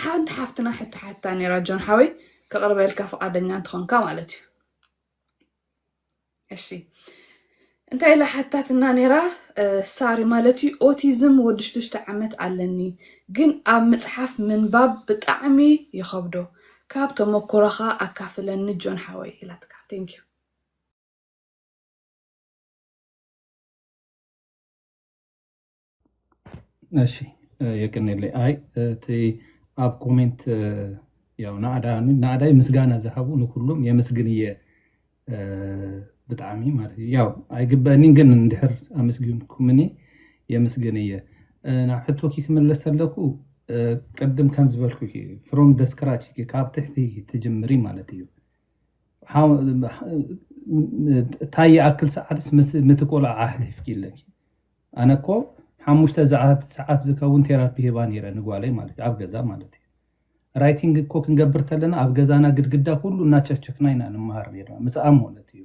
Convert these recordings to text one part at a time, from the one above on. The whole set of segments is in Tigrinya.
ሓንቲ ሓፍትና ሕቶ ሓታ ነራ ጆን ሓወይ ከቕርበልካ ፍቓደኛ እንትኾንካ ማለት እዩ እሺ እንታይ ኢላ ሓታትና ነራ ሳሪ ማለት እዩ ኦቲዝም ወዲ ሽዱሽተ ዓመት ኣለኒ ግን ኣብ ምፅሓፍ ምንባብ ብጣዕሚ ይኸብዶ ካብ ተመኩሮኻ ኣካፍለኒ ጆን ሓወይ ኢላትካ ቴንኪዩ እሺ የቅኔለይ ኣይ እቲ ኣብ ኮሜንት ያው ናእዳይ ምስጋና ዝሃቡ ንኩሉም የምስግን እየ ብጣዕሚ ማለት እዩ ያው ኣይግበአኒን ግን እንድሕር ኣመስጊንኩምኒ የምስግን እየ ናብ ሕቶኪ ክምለስ ተለኩ ቅድም ከም ዝበልኩኪ ፍሮም ዘ ስክራች ካብ ትሕቲ ትጅምሪ ማለት እዩ። ታይ ይኣክል ሰዓትስ ምቲ ቆልዓ ኣሕሊፍኪ ኣለኪ ኣነ እኮ ሓሙሽተ ሰዓት ዝከውን ቴራፒ ሂባ ነይረ ንጓለይ ማለት እዩ ኣብ ገዛ ማለት እዩ ራይቲንግ እኮ ክንገብር ተለና ኣብ ገዛና ግድግዳ ኩሉ እናቸክቸክና ኢና ንመሃር ነርና ምስኣ ማለት እዩ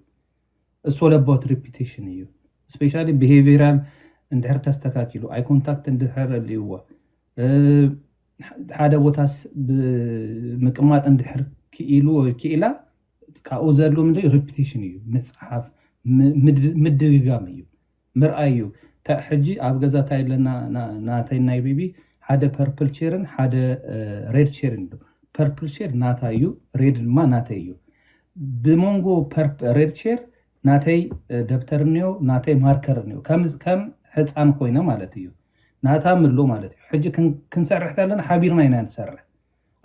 እሶ ለቦት ሪፒቴሽን እዩ ስፔሻሊ ብሄቪራል እንድሕር ተስተካኪሉ ኣይ ኮንታክት እንድሕር ኣልይዋ ሓደ ቦታስ ብምቅማጥ እንድሕር ክኢሉ ወይ ክኢላ ካብኡ ዘድሉ ምንድን ሪፒቴሽን እዩ ምፅሓፍ ምድግጋም እዩ ምርኣይ እዩ ሕጂ ኣብ ገዛ እንታይ ኣለና ናተይ ናይ ቤቢ ሓደ ፐርፕል ቼርን ሓደ ሬድ ቼርን እዩ ፐርፕል ቼር ናታ እዩ ሬድ ድማ ናተይ እዩ ብመንጎ ሬድ ቼር ናተይ ደብተር እኒኦ ናተይ ማርከር እኒኦ ከም ከም ሕፃን ኮይነ ማለት እዩ ናታ ምሉ ማለት እዩ ሕጂ ክንሰርሕ ተለና ሓቢርና ኢና ንሰርሕ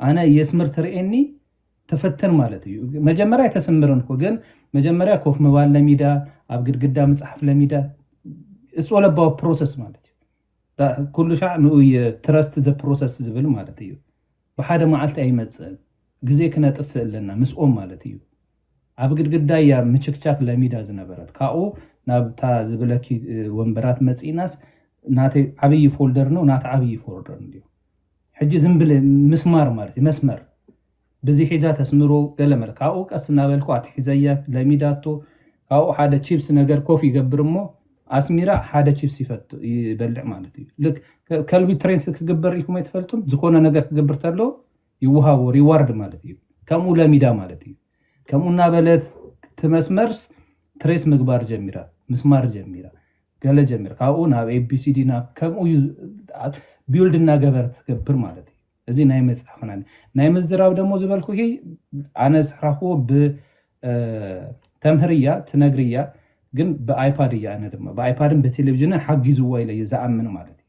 ኣነ የስምር ትርእየኒ ተፈትን ማለት እዩ መጀመርያ ኣይተስምርን እኮ ግን መጀመርያ ኮፍ ምባል ለሚዳ ኣብ ግድግዳ ምፅሓፍ ለሚዳ እፅለባዊ ፕሮሰስ ማለት እዩ ኩሉ ሻዕ ንኡ ትረስት ዘ ፕሮሰስ ዝብል ማለት እዩ ብሓደ መዓልቲ ኣይመፅእን ግዜ ክነጥፍእ ኣለና ምስኦም ማለት እዩ ኣብ ግድግዳ እያ ምችክቻክ ለሚዳ ዝነበረት ካብኡ ናብታ ዝብለኪ ወንበራት መጺእናስ ናተይ ዓብይ ፎልደር ነው ናታ ዓብይ ፎልደር እንድዩ ሕጂ ዝም ብለ ምስማር ማለት እዩ መስመር ብዚ ሒዛ ተስምሮ ገለ መለ ካብኡ ቀስ እናበልኩ ኣትሒዘያ ለሚዳቶ ካብኡ ሓደ ቺፕስ ነገር ኮፍ ይገብር እሞ ኣስሚራ ሓደ ቺፕስ ይፈት ይበልዕ ማለት እዩ ልክ ከልቢ ትሬንስ ክግበር ኢልኩም ኣይትፈልጡን ዝኾነ ነገር ክገብር ተሎ ይወሃቦ ሪዋርድ ማለት እዩ ከምኡ ለሚዳ ማለት እዩ ከምኡ እናበለት ትመስመርስ ትሬስ ምግባር ጀሚራ ምስማር ጀሚራ ገለ ጀሚራ ካብኡ ናብ ኤቢሲዲ ናብ ከምኡ እዩ ቢውልድ እናገበረት ትገብር ማለት እዩ እዚ ናይ መፅሓፍና ናይ ምዝራብ ደሞ ዝበልኩ ኣነ ዝስራክዎ ብተምህር እያ ትነግር እያ ግን ብኣይፓድ እያ ኣነ ድማ ብኣይፓድን ብቴሌቭዥንን ሓጊዝዎ ኢለ እየ ዝኣምን ማለት እዩ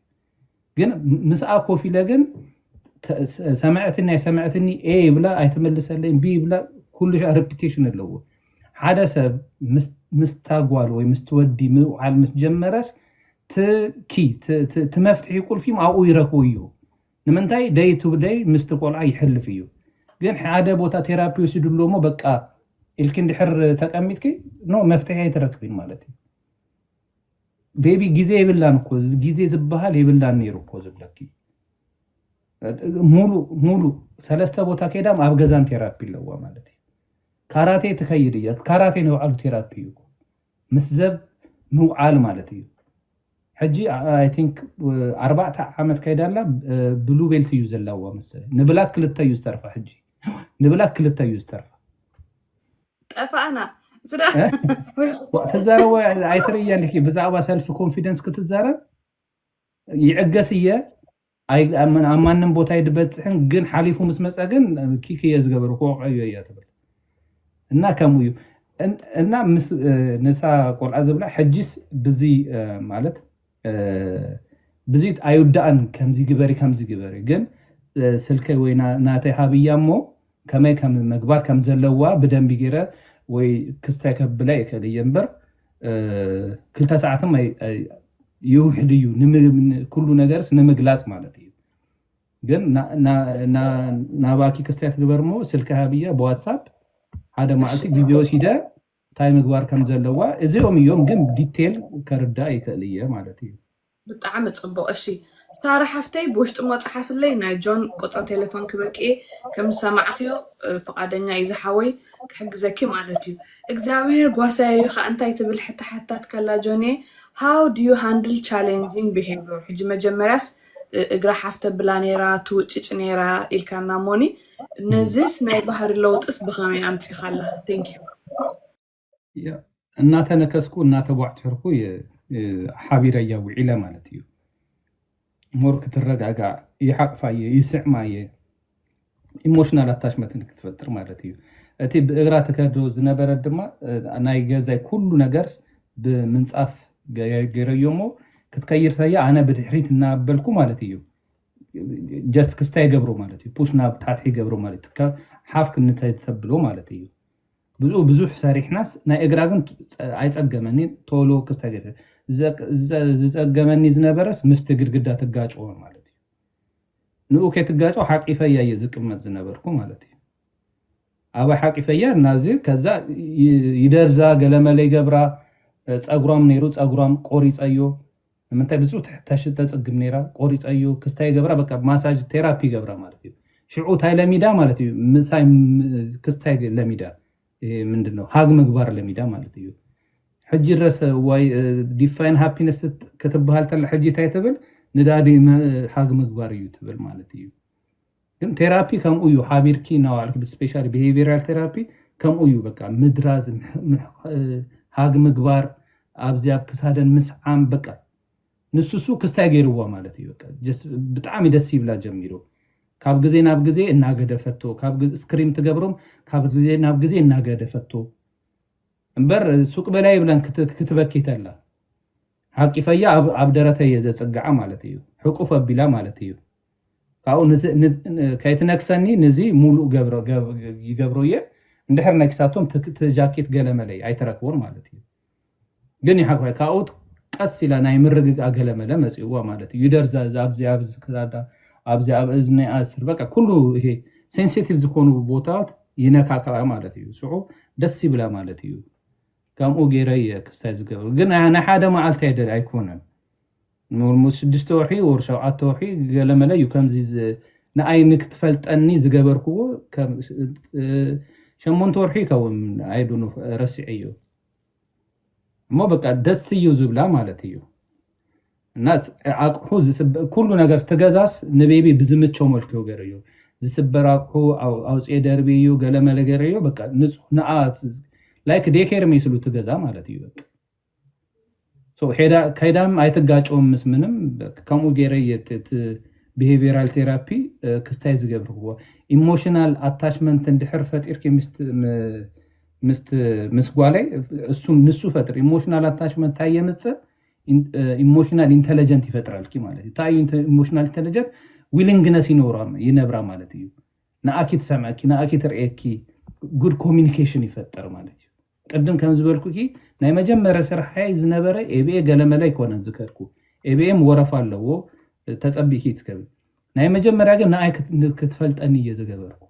ግን ምስኣ ኮፍ ኢለ ግን ሰምዐትኒ ኣይሰምዐትኒ ኤ ይብላ ኣይትመልሰለይን ቢ ይብላ ኩሉ ሻ ሪፒቴሽን ኣለዎ ሓደ ሰብ ምስታ ጓል ወይ ምስቲ ወዲ ምውዓል ምስ ጀመረስ ትኪ ትመፍትሒ ቁልፊ ኣብኡ ይረክቡ እዩ ንምንታይ ደይ ቱ ደይ ምስቲ ቆልዓ ይሕልፍ እዩ ግን ሓደ ቦታ ቴራፒ ወሲዱ ኣሎ እሞ በቃ ኢልኪ እንድሕር ተቀሚጥኪ ኖ መፍትሒ ኣይትረክቢን ማለት እዩ ቤቢ ግዜ የብላን እኮ ግዜ ዝበሃል የብላን ነይሩ እኮ ዝብለኪ ሙሉእ ሙሉእ ሰለስተ ቦታ ከይዳም ኣብ ገዛም ቴራፒ ኣለዋ ማለት እዩ ካራቴ ትከይድ እያ ካራቴ ንባዕሉ ቴራፒ እዩ ምስ ዘብ ምውዓል ማለት እዩ ሕጂ ኣይ ቲንክ ኣርባዕተ ዓመት ከይዳ ኣላ ብሉ ቤልት እዩ ዘለዋ መሰለኝ ንብላክ ክልተ እዩ ዝተርፋ ሕጂ ንብላክ ክልተ እዩ ዝተርፋ ጠፋእና ትዛረቦ ኣይትርእየን ኪ ብዛዕባ ሰልፊ ኮንፊደንስ ክትዛረብ ይዕገስ እየ ኣብ ማንም ቦታ ይድበፅሕን ግን ሓሊፉ ምስ መፀ ግን ኪክ እየ ዝገበሩ ክወቅዖ እዮ እያ ትብል እና ከምኡ እዩ እና ምስ ነታ ቆልዓ ዝብላ ሕጂስ ብዚ ማለት ብዙይ ኣይውዳእን ከምዚ ግበሪ ከምዚ ግበሪ ግን ስልከይ ወይ ናተይ ሃብያ እሞ ከመይ ከም ምግባር ከም ዘለዋ ብደንቢ ገይረ ወይ ክስታይ ከብላ ይክእል እየ እምበር ክልተ ሰዓትም ይውሕድ እዩ ኩሉ ነገርስ ንምግላፅ ማለት እዩ ግን ናባኪ ክስታይ ክግበር እሞ ስልከይ ሃብያ ብዋትሳፕ ሓደ ማዓልቲ ግዜ ወሲደ እንታይ ምግባር ከም ዘለዋ እዚኦም እዮም ግን ዲቴል ከርዳእ ይክእል እየ ማለት እዩ። ብጣዕሚ ጽቡቅ እሺ ሳራ ሓፍተይ ብውሽጢ እሞ ጽሓፍለይ ናይ ጆን ቁጽሪ ቴለፎን ክበኪ እየ ከም ዝሰማዕክዮ ፍቃደኛ እዩ ዝሓወይ ክሕግዘኪ ማለት እዩ እግዚኣብሄር ጓሳየይ እዩ ከኣ እንታይ ትብል ሕቶ ሓቲታትካላ ጆንየ how do you handle challenging behavior ሕጂ መጀመርያስ እግራ ሓፍ ተብላ ኔራ ትውጭጭ ኔራ ኢልካና እሞኒ ነዚስ ናይ ባህሪ ለውጥስ ብኸመይ ኣምጺኻላ? Thank you። ያ፣ እናተነከስኩ እናተቧጭርኩ እየ እ፣ ሓቢረያ ውዒለ ማለት እዩ ሞር ክትረጋጋእ ይሓቕፋ እየ ይስዕማ እየ ኢሞሽናል ኣታችመንት ክትፈጥር ማለት እዩ እቲ ብእግራ ትከዶ ዝነበረት ድማ እ፣ ናይ ገዛይ ኩሉ ነገርስ ብምንፃፍ ገ- ገይረዮ እሞ ክትከይር ተያ ኣነ ብድሕሪት እናበልኩ ማለት እዩ ጀስት ክስታይ ይገብሩ ማለት እዩ ፑሽ ናብ ታሕቲ ይገብሩ ማለት እዩ ካብ ሓፍ ክንታይ ተብሎ ማለት እዩ ብኡ ብዙሕ ሰሪሕናስ ናይ እግራ ግን ኣይፀገመኒ ቶሎ ክስታይ ገይረ ዝፀገመኒ ዝነበረስ ምስቲ ግድግዳ ትጋጭዎ ማለት እዩ ንኡ ከይትጋጮ ሓቂፈያ እየ ዝቅመጥ ዝነበርኩ ማለት እዩ ኣባይ ሓቂፈያ ናብዚ ከዛ ይደርዛ ገለመለ ይገብራ ፀጉሯም ነይሩ ፀጉሯም ቆሪፀዮ ንምንታይ ብጹ ተሕተሽ ተጽግም ነይራ ቆሪጸዩ ክስታይ ይገብራ በቃ ማሳጅ ቴራፒ ይገብራ ማለት እዩ ሽዑ ታይ ለሚዳ ማለት እዩ ምሳይ ክስታይ ለሚዳ ምንድነው ሃግ ምግባር ለሚዳ ማለት እዩ ሕጂ ድረስ ዋይ ዲፋይን ሃፒነስ ክትበሃል ተላ ሕጂ ታይ ትብል ንዳዲ ሃግ ምግባር እዩ ትብል ማለት እዩ ግን ቴራፒ ከምኡ እዩ ሓቢርኪ እናዋልኪ ብስፔሻሊ ብሄቪራል ቴራፒ ከምኡ እዩ በቃ ምድራዝ ሃግ ምግባር ኣብዚ ኣብ ክሳደን ምስዓም በቃ ንሱሱ ክስታይ ገይርዋ ማለት እዩ ብጣዕሚ ደስ ይብላ ጀሚሩ ካብ ግዜ ናብ ግዜ እናገደፈቶ ካብ ስክሪም ትገብሮም ካብ ግዜ ናብ ግዜ እናገደፈቶ እምበር ሱቅ በላይ ይብለን ክትበኪ ተላ ሓቂፈያ ኣብ ኣብ ደረተይ እየ ዘጽግዓ ማለት እዩ ሕቁፍ ኣቢላ ማለት እዩ ካብኡ ከይትነክሰኒ ንዚ ሙሉእ ገብረ ይገብሮ እየ እንድሕር ነኪሳቶም ትጃኪት ገለመለይ ኣይትረክቦን ማለት እዩ ግን ይሓቅፈ ካብኡ ቀስ ኢላ ናይ ምርግግኣ ገለመለ መጽእዋ ማለት እዩ ይደር ኣብዚ ኣብ ክሳዳ ኣብዚ ኣብ እዝኒኣ ስር በቃ ኩሉ ይሄ ሴንሲቲቭ ዝኾኑ ቦታታት ይነካካኣ ማለት እዩ ስዑ ደስ ይብላ ማለት እዩ ከምኡ ገይረ እየ ክስታይ ዝገብር ግን ናይ ሓደ መዓልቲ ኣይደ ኣይኮነን ን ስድስተ ወርሒ ወር ሸውዓተ ወርሒ ገለመለ እዩ ከምዚ ንኣይ ንክትፈልጠኒ ዝገበርክዎ ሸሞንተ ወርሒ ይከውን ኣይዱ ረሲዐዮ እሞ በቃ ደስ እዩ ዝብላ ማለት እዩ እናስ ኣቁሑ ዝስበ ኩሉ ነገር እቲ ገዛስ ንቤቢ ብዝምቸው መልክዑ ገይረዮ ዝስበር ኣቁሑ ኣውፅኤ ደርብዩ ገለመለ ገይረዮ በቃ ንፁህ ንኣ ላይክ ዴኬር መይስሉ እቲ ገዛ ማለት እዩ በቃ ከይዳም ኣይትጋጨውም ምስ ምንም ከምኡ ገይረ እቲ ብሄቪራል ቴራፒ ክስታይ ዝገብርዎ ኢሞሽናል ኣታችመንት እንድሕር ፈጢርኪ ምስ ጓለይ ንሱ ፈጥር ኢሞሽናል ኣታችመንት ታይ የምፅእ ኢሞሽናል ኢንተለጀንት ይፈጥረልኪ ማለት እዩ እንታይ እዩ ኢሞሽናል ኢንተለጀንት ዊሊንግነስ ይነብራ ማለት እዩ ንኣኪ ትሰምዐኪ ንኣኪ ትርእየኪ ጉድ ኮሚኒኬሽን ይፈጥር ማለት እዩ ቅድም ከም ዝበልኩኪ ናይ መጀመርያ ስርሓይ ዝነበረ ኤቢኤ ገለመለ ኣይኮነን ዝከድኩ ኤቢኤም ወረፋ ኣለዎ ተፀቢኪ ትከቢ ናይ መጀመርያ ግን ንኣይ ክትፈልጠኒ እየ ዝገበርኩ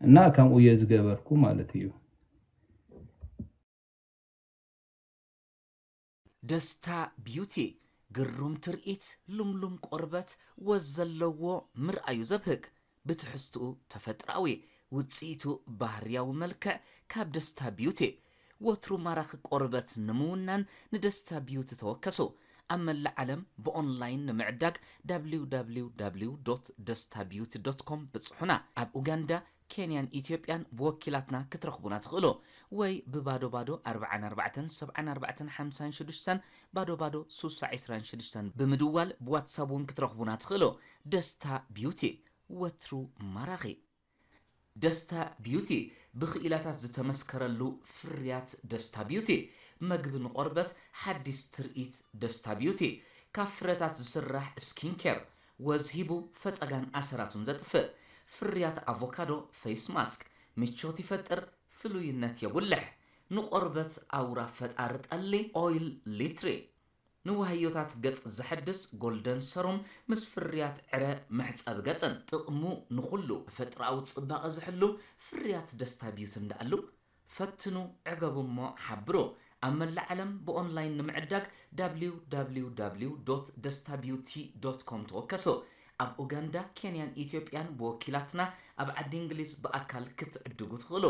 እና ከምኡ እየ ዝገበርኩ ማለት እዩ ደስታ ቢዩቲ ግሩም ትርኢት ልምሉም ቆርበት ወዝ ዘለዎ ምርኣዩ ዘብህግ ብትሕዝትኡ ተፈጥሮኣዊ ውጽኢቱ ባህርያዊ መልክዕ ካብ ደስታ ቢዩቲ ወትሩ ማራኺ ቆርበት ንምውናን ንደስታ ቢዩቲ ተወከሱ ኣብ መላእ ዓለም ብኦንላይን ንምዕዳግ www.destabeauty.com ብጽሑና ኣብ ኡጋንዳ ኬንያን ኢትዮጵያን ብወኪላትና ክትረኽቡና ትኽእሉ ወይ ብባዶ ባዶ ኣርብዓን ኣርባዕተን ሰብዓን ኣርባዕተን ሓምሳን ሽዱሽተን ባዶ ባዶ ሱሳ ዕስራን ሽዱሽተን ብምድዋል ብዋትሳብ ውን ክትረኽቡና ትኽእሉ ደስታ ቢዩቲ ወትሩ ማራኺ። ደስታ ቢዩቲ ብኽኢላታት ዝተመስከረሉ ፍርያት ደስታ ቢዩቲ መግቢ ንቆርበት ሓዲስ ትርኢት ደስታ ቢዩቲ ካብ ፍረታት ዝስራሕ ስኪን ኬር ወዝ ሂቡ ፈጸጋን ኣሰራቱን ዘጥፍእ፣ ፍርያት ኣቮካዶ ፈይስ ማስክ ምቾት ይፈጥር ፍሉይነት የጉልሕ፣ ንቆርበት ኣውራ ፈጣሪ ጠሊ ኦይል ሊትሪ፣ ንዋህዮታት ገጽ ዘሐድስ ጎልደን ሰሩም ምስ ፍርያት ዕረ መሕጸቢ ገጽን። ጥቕሙ ንኹሉ ተፈጥሮኣዊ ጽባቐ ዝሕሉ ፍርያት ደስታ ቢዩትን ደኣሉ ፈትኑ ዕገቡ እሞ ሓብሩ። ኣብ መላእ ዓለም ብኦንላይን ንምዕዳግ www.destabeauty.com ተወከሱ። ኣብ ኡጋንዳ፣ ኬንያን ኢትዮጵያን ብወኪላትና ኣብ ዓዲ እንግሊዝ ብኣካል ክትዕድጉ ትኽእሉ።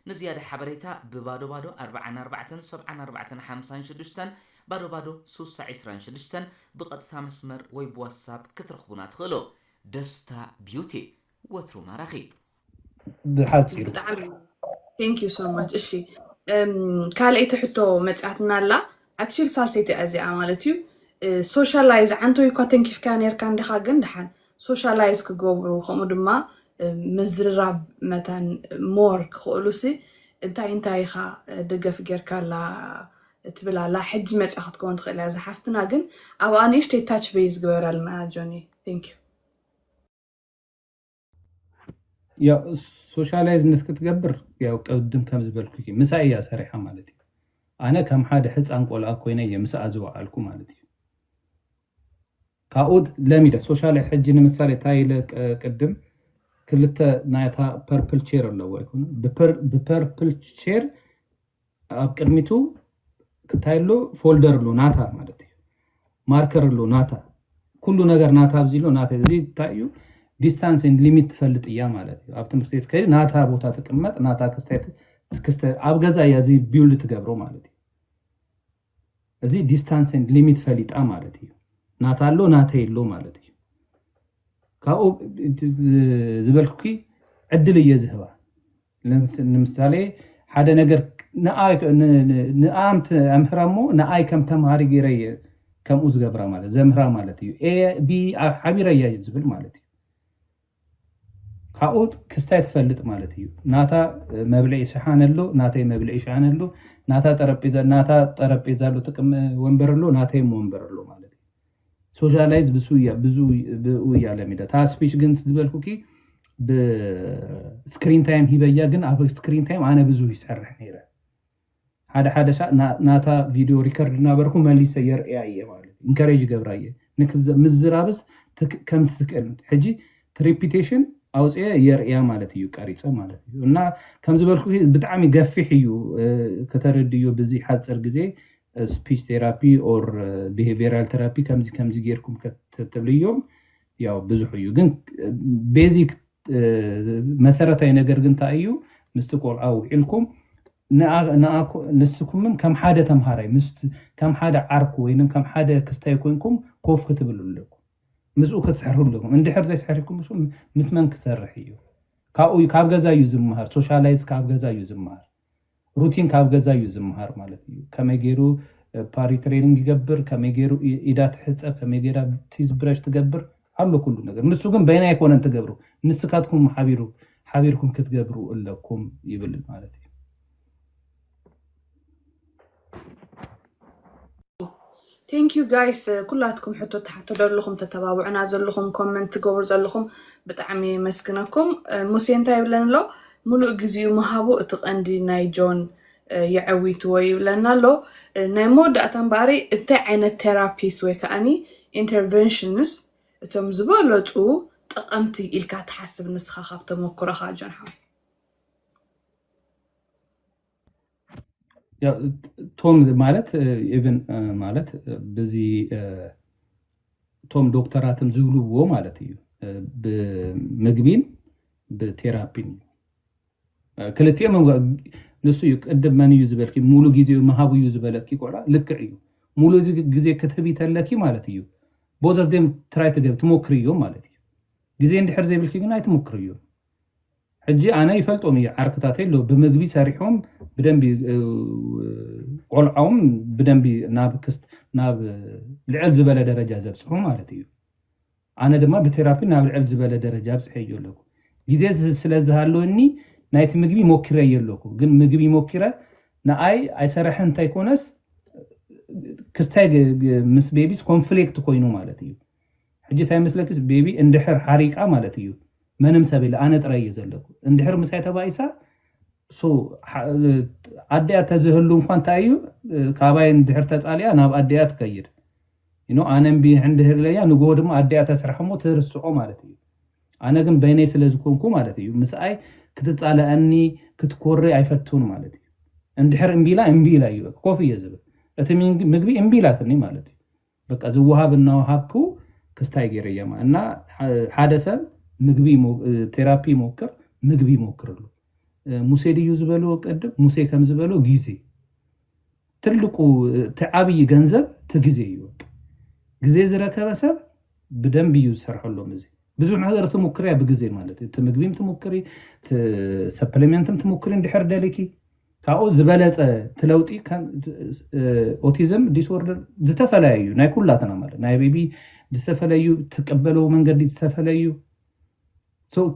ንዝያዳ ሓበሬታ ብ ባዶ ባዶ ኣርብዓን ኣርባዕተን ሰብዓን ኣርባዕተን ሓምሳን ሽዱሽተን፣ ባዶ ባዶ ስውሳ ዕስራን ሽዱሽተን፣ ብቐጥታ መስመር ወይ ብዋትሳፕ ክትረኽቡና ትኽእሉ። ደስታ ቢዩቲ፣ ወትሩ ማራኺ! ብሓፂሩ ብጣዕሚ ቴንክ ዩ ሶ ማች እሺ እም፣ ካልኣይቲ ሕቶ መፅኣትና ኣላ ኣክሽል ሳልሰይቲ እያ እዚኣ ማለት እዩ ሶሻላይዝ ዓንቶ እኳ ተንኪፍካያ ነርካ እንዲኻ ግን ድሓን ሶሻላይዝ ክገብሩ ከምኡ ድማ እም፣ ምዝርራብ መታን ሞር ክኽእሉሲ እንታይ እንታይ ኢኻ እ፣ ደገፍ ጌርካላ ትብል ኣላ ሕጂ መፅኣ ክትከውን ትኽእል እያ ዝሓፍትና ግን ኣብኣ ንእሽተይ ታች በይ ዝግበረልና ጆኒ ቴንክ ዩ ሶሻላይዝ ምስ ክትገብር ያው ቅድም ከም ዝበልኩኪ ምሳይ እያ ሰሪሓ ማለት እዩ ኣነ ከም ሓደ ሕፃን ቆልኣ ኮይነ እየ ምስኣ ዝወዓልኩ ማለት እዩ ካብኡ ለሚደ ሶሻል ሕጂ ንምሳሌ እንታይ ኢለ ቅድም ክልተ ናይታ ፐርፕል ቼር ኣለዎ ኣይኮኑ ብፐርፕል ቼር ኣብ ቅድሚቱ ክታይ ኣሎ ፎልደር ኣሎ ናታ ማለት እዩ ማርከር ኣሎ ናታ ኩሉ ነገር ናታ ኣብዚ ኣሎ ናተ እዚ እንታይ እዩ ዲስታንስ ን ሊሚት ትፈልጥ እያ ማለት እዩ ኣብ ትምህርቲ ቤት ከይዲ ናታ ቦታ ትቅመጥ ናታ ክስተ ኣብ ገዛ እያ እዚ ቢውልድ ትገብሮ ማለት እዩ እዚ ዲስታንስ ኤንድ ሊሚት ፈሊጣ ማለት እዩ። ናታ ኣሎ ናተይ ኣሎ ማለት እዩ። ካብኡ ዝበልኩኪ ዕድል እየ ዝህባ ንምሳሌ ሓደ ነገር ንኣምት ኣምህራ እሞ ንኣይ ከም ተምሃሪ ገይረ እየ ከምኡ ዝገብራ ማለት ዘምህራ ማለት እዩ ኤ ቢ ሓቢረ እያ ዝብል ማለት እዩ ካብኡ ክስታይ ትፈልጥ ማለት እዩ። ናታ መብልዒ ሸሓነ ኣሎ፣ ናተይ መብልዒ ሸሓነ ኣሎ፣ ናታ ጠረጴዛ ናታ ጠረጴዛ ኣሎ፣ ጥቅም ወንበር ኣሎ፣ ናተይም ወንበር ኣሎ ማለት እዩ። ሶሻላይዝ ብሱያ ብዙ ብኡያ ለሚዳ እታ ስፒች ግን ዝበልኩኪ ብስክሪን ታይም ሂበያ ግን ኣብ ስክሪን ታይም ኣነ ብዙ ይሰርሕ ነይረ ሓደ ሓደ ሳዕ ናታ ቪድዮ ሪከርድ እናበርኩ መሊሰ የርእያ እየ ማለት እዩ ኢንከሬጅ ይገብራ እየ ምዝራብስ ከምቲ ትክእል ሕጂ ትሪፒቴሽን ኣውፅአ የርእያ ማለት እዩ ቀሪፀ ማለት እዩ እና ከምዝበልኩ ብጣዕሚ ገፊሕ እዩ ከተረድዮ ብዚ ሓፅር ግዜ ስፒች ቴራፒ ኦር ቢሄቪራል ቴራፒ ከምዚ ከምዚ ጌርኩም ከተትብልዮም ያው ብዙሕ እዩ ግን ቤዚክ መሰረታዊ ነገር ግን እንታይ እዩ ምስቲ ቆልዓ ውዒልኩም ንስኩምን ከም ሓደ ተምሃራይ ከም ሓደ ዓርኩ ወይ ከም ሓደ ክስታይ ኮንኩም ኮፍ ክትብሉ ኣለኩም ምስኡ ክትስሕሩ ኣለኩም እንድሕር ዘይስሕርኩም ምስ መን ክሰርሕ እዩ ካብኡ ካብ ገዛ እዩ ዝምሃር ሶሻላይዝ ካብ ገዛ እዩ ዝምሃር ሩቲን ካብ ገዛ እዩ ዝምሃር ማለት እዩ ከመይ ገይሩ ፓሪ ትሬኒንግ ይገብር ከመይ ገይሩ ኢዳ ትሕፀብ ከመይ ገይራ ቲዝ ብረሽ ትገብር ኣሎ ኩሉ ነገር ንሱ ግን በይና ኣይኮነን ትገብሩ ንስካትኩም ሓቢሩ ሓቢርኩም ክትገብሩ ኣለኩም ይብል ማለት እዩ Thank you guys ኩላትኩም ሕቶ ትሓቱ ዘለኹም ተተባብዑና ዘለኹም ኮመንት ትገብሩ ዘለኹም ብጣዕሚ የመስግነኩም። ሙሴ እንታይ ይብለን ኣሎ ሙሉእ ግዜኡ ምሃቡ እቲ ቀንዲ ናይ ጆን የዐዊትዎ ይብለና ኣሎ። ናይ መወዳእታ እምበኣሪ እንታይ ዓይነት ቴራፒስ ወይ ከዓኒ ኢንተርቨንሽንስ እቶም ዝበለፁ ጠቐምቲ ኢልካ ትሓስብ ንስኻ ካብ ተመኩሮኻ ጆን ሓወይ? ቶም ማለት ኢቭን ማለት ብዚ እቶም ዶክተራትን ዝብልዎ ማለት እዩ ብምግቢን ብቴራፒን እዩ ክልቲኦም እም ንሱ እዩ ቅድም መን እዩ ዝበልኪ ሙሉ ግዜ ምሃብ እዩ ዝበለኪ ቆልዓ ልክዕ እዩ ሙሉ ግዜ ክትህቢ ተለኪ ማለት እዩ ቦዘርዜም ትራይ ትገብሪ ትሞክሪ እዮም ማለት እዩ ግዜ እንድሕር ዘይብልኪ ግን ኣይትሞክርዮን። ሕጂ ኣነ ይፈልጦም እየ ዓርክታተይ ኣሎ ብመግቢ ሰሪሖም ብደንቢ ቆልዖም ብደንቢ ናብ ክስት ናብ ልዕል ዝበለ ደረጃ ዘብጽሑ ማለት እዩ ኣነ ድማ ብቴራፒ ናብ ልዕል ዝበለ ደረጃ ኣብጽሐዮ ኣለኩ ግዜ ስለ ዝሃለወኒ ናይቲ ምግቢ ሞኪረዮ ኣለኩ ግን ምግቢ ሞኪረ ንኣይ ኣይሰረሐን እንተይኮነስ ክስታይ ምስ ቤቢስ ኮንፍሌክት ኮይኑ ማለት እዩ ሕጂ ታይ መስለኪስ ቤቢ እንድሕር ሓሪቃ ማለት እዩ መንም ሰብ የለ ኣነ ጥራይ እየ ዘለኩ እንድሕር ምሳይ ተባኢሳ so ኣዲኣ ተዝህሉ እንኳ እንታይ እዩ ካባይ እንድሕር ተፃሊኣ ናብ ኣዲኣ ትከይድ you know ኣነ እምቢ እንድህር ኢለያ ንግሆ ድማ ኣዲኣ ተስርሕ እሞ ትርስዖ ማለት እዩ ኣነ ግን በይነይ ስለ ዝኮንኩ ማለት እዩ ምስኣይ ክትፃለኣኒ ክትኮሪ ኣይፈቱን ማለት እዩ እንድሕር እምቢ ኢላ እምቢ ኢላ እዩ ኮፍ እየ ዝብል እቲ ምግቢ እምቢ ኢላትኒ ማለት እዩ በቃ ዝወሃብ እናወሃብኩ ክስታይ ገይረያማ እና ሓደ ሰብ ምግቢ ቴራፒ ይሞክር ምግቢ ይሞክርሉ ሙሴ ድዩ ዝበሎ ቀድም ሙሴ ከም ዝበሎ ጊዜ ትልቁ እቲ ዓብዪ ገንዘብ እቲ ጊዜ እዩ በቃ ጊዜ ዝረከበ ሰብ ብደንብ እዩ ዝሰርሐሎም እዚ ብዙሕ ነገር ትሙክርያ ብግዜ ማለት እዩ እቲ ምግቢም ትሙክሪ ሰፕሊሜንትም ትሙክሪ እንድሕር ደሊኪ ካብኡ ዝበለፀ እቲ ለውጢ ኦቲዝም ዲስኦርደር ዝተፈለየ እዩ ናይ ኩላትና ማለት ናይ ቤቢ ዝተፈለዩ ትቀበለው መንገዲ ዝተፈለዩ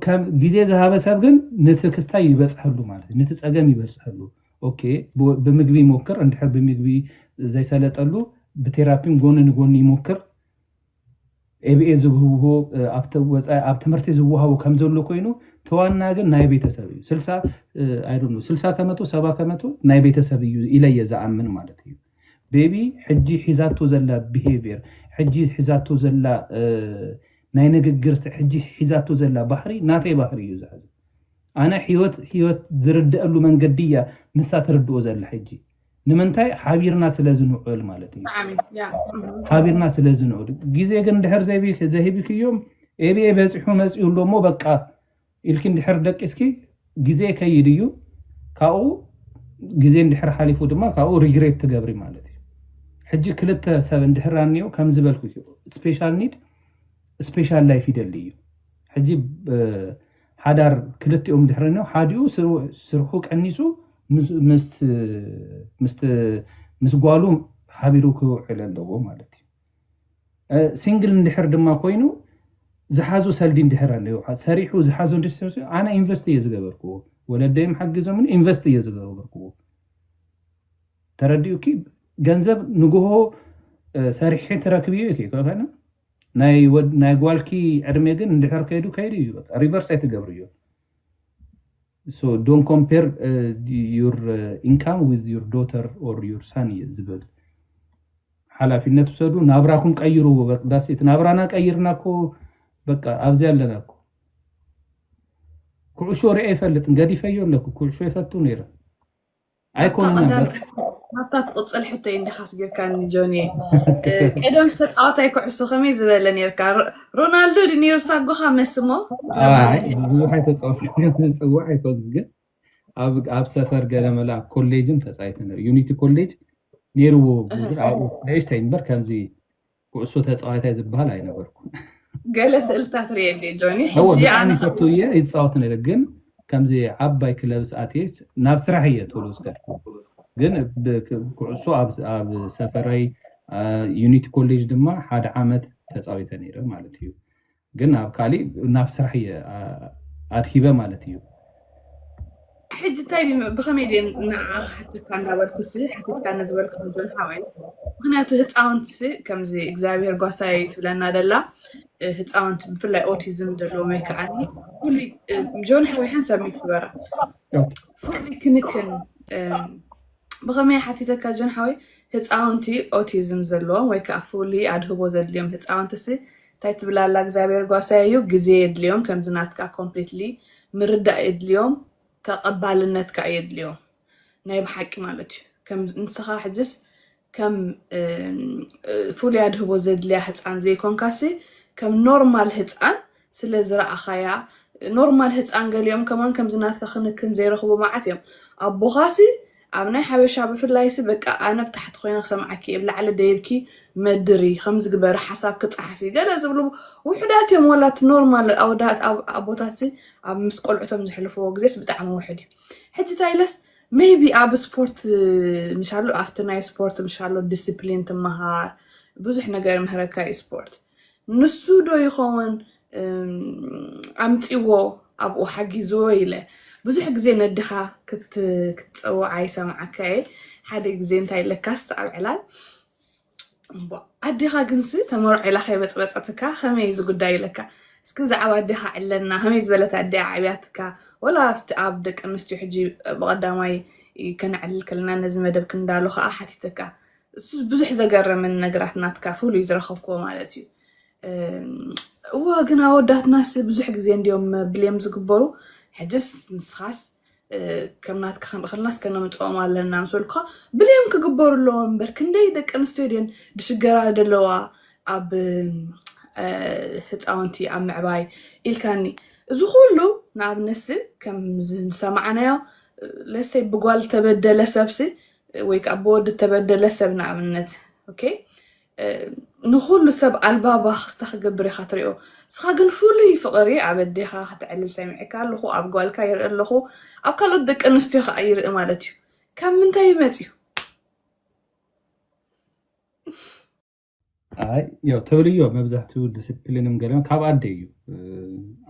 ከም ግዜ ዝሃበ ሰብ ግን ነቲ ክስታይ ይበፅሐሉ ማለት እዩ ነቲ ፀገም ይበፅሐሉ ኦኬ ብምግቢ ይሞክር እንድሕር ብምግቢ ዘይሰለጠሉ ብቴራፒን ጎኒ ንጎኒ ይሞክር ኤብኤ ዝብህብዎ ኣብቲ ወፃኢ ኣብ ትምህርቲ ዝወሃቡ ከም ዘሎ ኮይኑ ተዋና ግን ናይ ቤተሰብ እዩ ስልሳ ኣይዶነ ስልሳ ከመቶ ሰባ ከመቶ ናይ ቤተሰብ እዩ ኢለየ ዝኣምን ማለት እዩ ቤቢ ሕጂ ሒዛቶ ዘላ ብሄቪር ሕጂ ሒዛቶ ዘላ ናይ ንግግር ሕጂ ሒዛቶ ዘላ ባህሪ ናተይ ባህሪ እዩ ዝሓዘ ኣነ ህይወት ህይወት ዝርደአሉ መንገዲ እያ ንሳ ትርድኦ ዘላ ሕጂ ንምንታይ ሓቢርና ስለ ዝንዑል ማለት እዩ ሓቢርና ስለ ዝንዑል ግዜ ግን ድሕር ዘሂብክዮም ኤብየ በፂሑ መፅኡ ኣሎ እሞ በቃ ኢልኪ ድሕር ደቂስኪ ግዜ ከይድ እዩ ካብኡ ግዜ እንድሕር ሓሊፉ ድማ ካብኡ ሪግሬት ትገብሪ ማለት እዩ ሕጂ ክልተ ሰብ እንድሕር ኣኒኦ ከም ዝበልኩ ስፔሻል ኒድ ስፔሻል ላይፍ ይደሊ እዩ ሕጂ ሓዳር ክልቲኦም ድሕሪ ን ሓዲኡ ስርሑ ቀኒሱ ምስ ጓሉ ሓቢሩ ክውዕል ኣለዎ ማለት እዩ። ሲንግል እንድሕር ድማ ኮይኑ ዝሓዞ ሰልዲ እንድሕር ኣለዎ ሰሪሑ ዝሓዞ ኣነ ኢንቨስት እየ ዝገበርክዎ ወለደይም ሓጊዞምኒ ኢንቨስት እየ ዝገበርክዎ ተረዲኡኪ ገንዘብ ንግሆ ሰሪሒ ትረክብዮ ኢኪ ኣይኮነን። ናይ ወድ ናይ ጓልኪ ዕድሜ ግን እንድሕር ከይዱ ከይዱ እዩ በቃ ሪቨርስ ኣይትገብርዮን so don't compare uh, your uh, income with your daughter or your son እየ ዝብል ሓላፊነት ውሰዱ ናብራኩም ቀይርዎ በቅዳሴ እቲ ናብራና ቀይርና እኮ በቃ ኣብዚ ኣለና እኮ ኩዕሾ ርአ ይፈልጥን ገዲፈዮ ኣለኩ ኩዕሾ ይፈቱ ነይረ ኣይኮነን ናብታ ትቕፅል ሕቶ እንዲኻስ ጌርካኒ ጆኒ ቀደም ተፃዋታይ ኩዕሶ ከመይ ዝበለ ነርካ ሮናልዶ ድ ነሩ ሳጎኻ መስሞ ብዙሕ ኣይተፃወትዝፅዋዕ ኣይኮን ግን ኣብ ሰፈር ገለመለ ኣብ ኮሌጅን ተፃይተ ነሩ ዩኒቲ ኮሌጅ ነይርዎ ኣብኡ ንእሽተይ እምበር ከምዚ ኩዕሶ ተፃዋታይ ዝበሃል ኣይነበርኩን። ገለ ስእልታት ርየ እንዴ ጆኒ ሕጂ ኣነ ብጣዕሚ ፈቱ እየ ይፃወት ነይረ ግን ከምዚ ዓባይ ክለብስ ኣትየ ናብ ስራሕ እየ ቶሎ ዝከድኩ ግን ኩዕሶ ኣብ ሰፈረይ ዩኒቲ ኮሌጅ ድማ ሓደ ዓመት ተፃዊተ ነይረ ማለት እዩ ግን ኣብ ካሊእ ናብ ስራሕ እየ ኣድሂበ ማለት እዩ። ሕጂ እንታይ ድዩ ብኸመይ ድየ ንዓኻ ክሓተካ እንዳበልኩሲ ሓቲትካኒ ዝበልኩ ጆን ሓወይ ምክንያቱ ህፃውንትሲ ከምዚ እግዚኣብሔር ጓሳይ ትብለና ደላ ህፃውንቲ ብፍላይ ኦቲዝም ዘለዎም ወይ ከዓ ፍሉይ ጆን ሓወይ ሓንሳብ ሚት ግበራ ፍሉይ ክንክን ብኸመይ ሓቲተካ ጆን ሓወይ ህጻውንቲ ኦቲዝም ዘለዎም ወይ ከዓ ፍሉይ ኣድህቦ ዘድልዮም ህጻውንትሲ እንታይ ትብላ ኣላ እግዚኣብሔር ጓሳይ እዩ ግዜ የድልዮም ከምዚ ናትካ ኮምፕሊትሊ ምርዳእ የድልዮም ተቐባልነት ከዓ የድልዮም ናይ ብሓቂ ማለት እዩ ከም ንስኻ ሕጅስ ከም ፍሉይ ኣድህቦ ዘድልያ ህፃን ዘይኮንካሲ ከም ኖርማል ህፃን ስለ ዝረኣኻያ ኖርማል ህጻን ገሊኦም ከማን ከምዚ ናትካ ክንክን ዘይረኽቡ መዓት እዮም ኣቦኻሲ ኣብ ናይ ሓበሻ ብፍላይሲ በቃ ኣነ ብታሕቲ ኮይነ ክሰምዓኪ እየ ብላዕሊ ደይብኪ መድሪ ከምዚ ግበሪ ሓሳብኪ ጸሓፊ ገለ ዝብሉ ውሑዳት እዮም ወላ እቲ ኖርማል ኣወዳት ኣቦታትሲ ኣብ ምስ ቆልዑቶም ዘሕልፍዎ ግዜስ ብጣዕሚ ውሑድ እዩ ሕጂ እንታይ ኢለስ ሜይቢ ኣብ ስፖርት ምሻሉ ኣብቲ ናይ ስፖርት ምሻሉ ዲስፕሊን ትመሃር ብዙሕ ነገር ይምህረካ እዩ ስፖርት ንሱ ዶ ይኸውን ኣምጺዎ ኣብኡ ሓጊዝዎ ኢለ ብዙሕ ግዜ ነድኻ ክትጸውዓ ይሰምዓካ እየ ሓደ ግዜ እንታይ ለካስ ኣብ ዕላል ኣዴኻ ግንሲ ተመርዖ ኢላ ከይበፅበፀትካ ከመይ እዩ ዝጉዳይ ኢለካ እስኪ ብዛዕባ ኣዴኻ ዕለና ከመይ ዝበለት ኣደ ዓብያትካ ወላ ኣብቲ ኣብ ደቂ ኣንስትዮ ሕጂ ብቐዳማይ ከነዕልል ከለና ነዚ መደብ ክንዳሎ ከዓ ሓቲተካ እሱ ብዙሕ ዘገረምን ነገራት ናትካ ፍሉይ ዝረኸብክዎ ማለት እዩ እወ ግን ኣወዳትናስ ብዙሕ ግዜ እንዲዮም ብልም ዝግበሩ ሕጅስ ንስኻስ ከም ናትካ ክንርክልናስ ከነምፅኦም ኣለና ምስ በልኩካ ብልም ክግበሩ ኣለዎ እምበር ክንደይ ደቂ ኣንስትዮ ድን ድሽገራ ዘለዋ ኣብ ህፃውንቲ ኣብ ምዕባይ ኢልካኒ እዚ ኩሉ ንኣብነሲ ከም ዝሰማዕናዮ ለሰይ ብጓል ተበደለ ሰብሲ ወይ ከዓ ብወዲ እተበደለ ሰብ ንኣብነት ኦኬ እ፣ ንኹሉ ሰብ ኣልባ ባኽስታ ክገብር ኢኻ ትሪኦ እስኻ ግን ፍሉይ ፍቕሪ ኣብ ኣዴኻ ከተዕልል ሰሚዐካ ኣለኹ ኣብ ጓልካ ይርኢ ኣለኹ ኣብ ካልኦት ደቂ ኣንስትዮ ከዓ ይርኢ ማለት እዩ ካብ ምንታይ ይመፅ እዩ ያው ተብልዮ መብዛሕትኡ ዲስፕሊንም ገለ ካብ ኣደ እዩ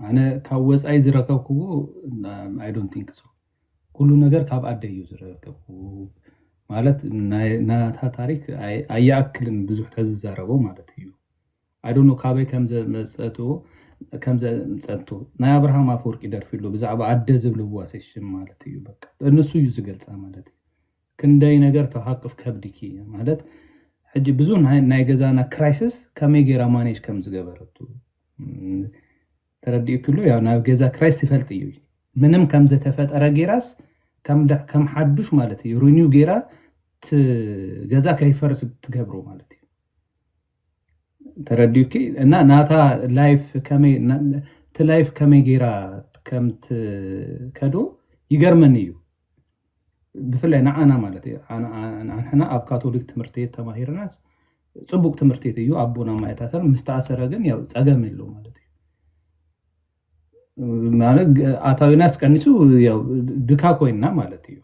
ኣነ ካብ ወፃኢ ዝረከብክዎ ኣይ ዶንት ቲንክ ሶ ኩሉ ነገር ካብ ኣደ እዩ ዝረከብኩ ማለት ናታ ታሪክ ኣየኣክልን ብዙሕ ተዝዛረቦ ማለት እዩ ኣይዶኖ ካበይ ከምዘመፀትዎ ከምዘምፀንቶ ናይ ኣብርሃም ኣፈወርቂ ደርፊ ኣሎ ብዛዕባ ኣደ ዝብልዋ ሴሽን ማለት እዩ በቃ ንሱ እዩ ዝገልፃ ማለት እዩ ክንደይ ነገር ትሃቅፍ ከብድኪ ማለት ሕጂ ብዙ ናይ ገዛና ክራይስስ ከመይ ገይራ ማኔጅ ከም ዝገበረቱ ተረዲኡኪ ኣሎ ያው ናብ ገዛ ክራይስ ትፈልጥ እዩ ምንም ከም ዘተፈጠረ ገይራስ ከም ሓዱሽ ማለት እዩ ሪኒው ገይራ ገዛ ከይፈርስ ትገብሮ ማለት እዩ ተረዲኡኪ እና ናታ ላይፍ ከመይ እቲ ላይፍ ከመይ ጌራ ከም ትከዶ ይገርመኒ እዩ ብፍላይ ንዓና ማለት እዩ ንሕና ኣብ ካቶሊክ ትምህርቲ ቤት ተማሂርናስ ፅቡቅ ትምህርቲ ቤት እዩ ኣቦና ማይ ታተር ምስ ተኣሰረ ግን ያው ፀገም የለዉም ማለት እዩ። ኣታዊናስ ቀኒሱ ድካ ኮይና ማለት እዩ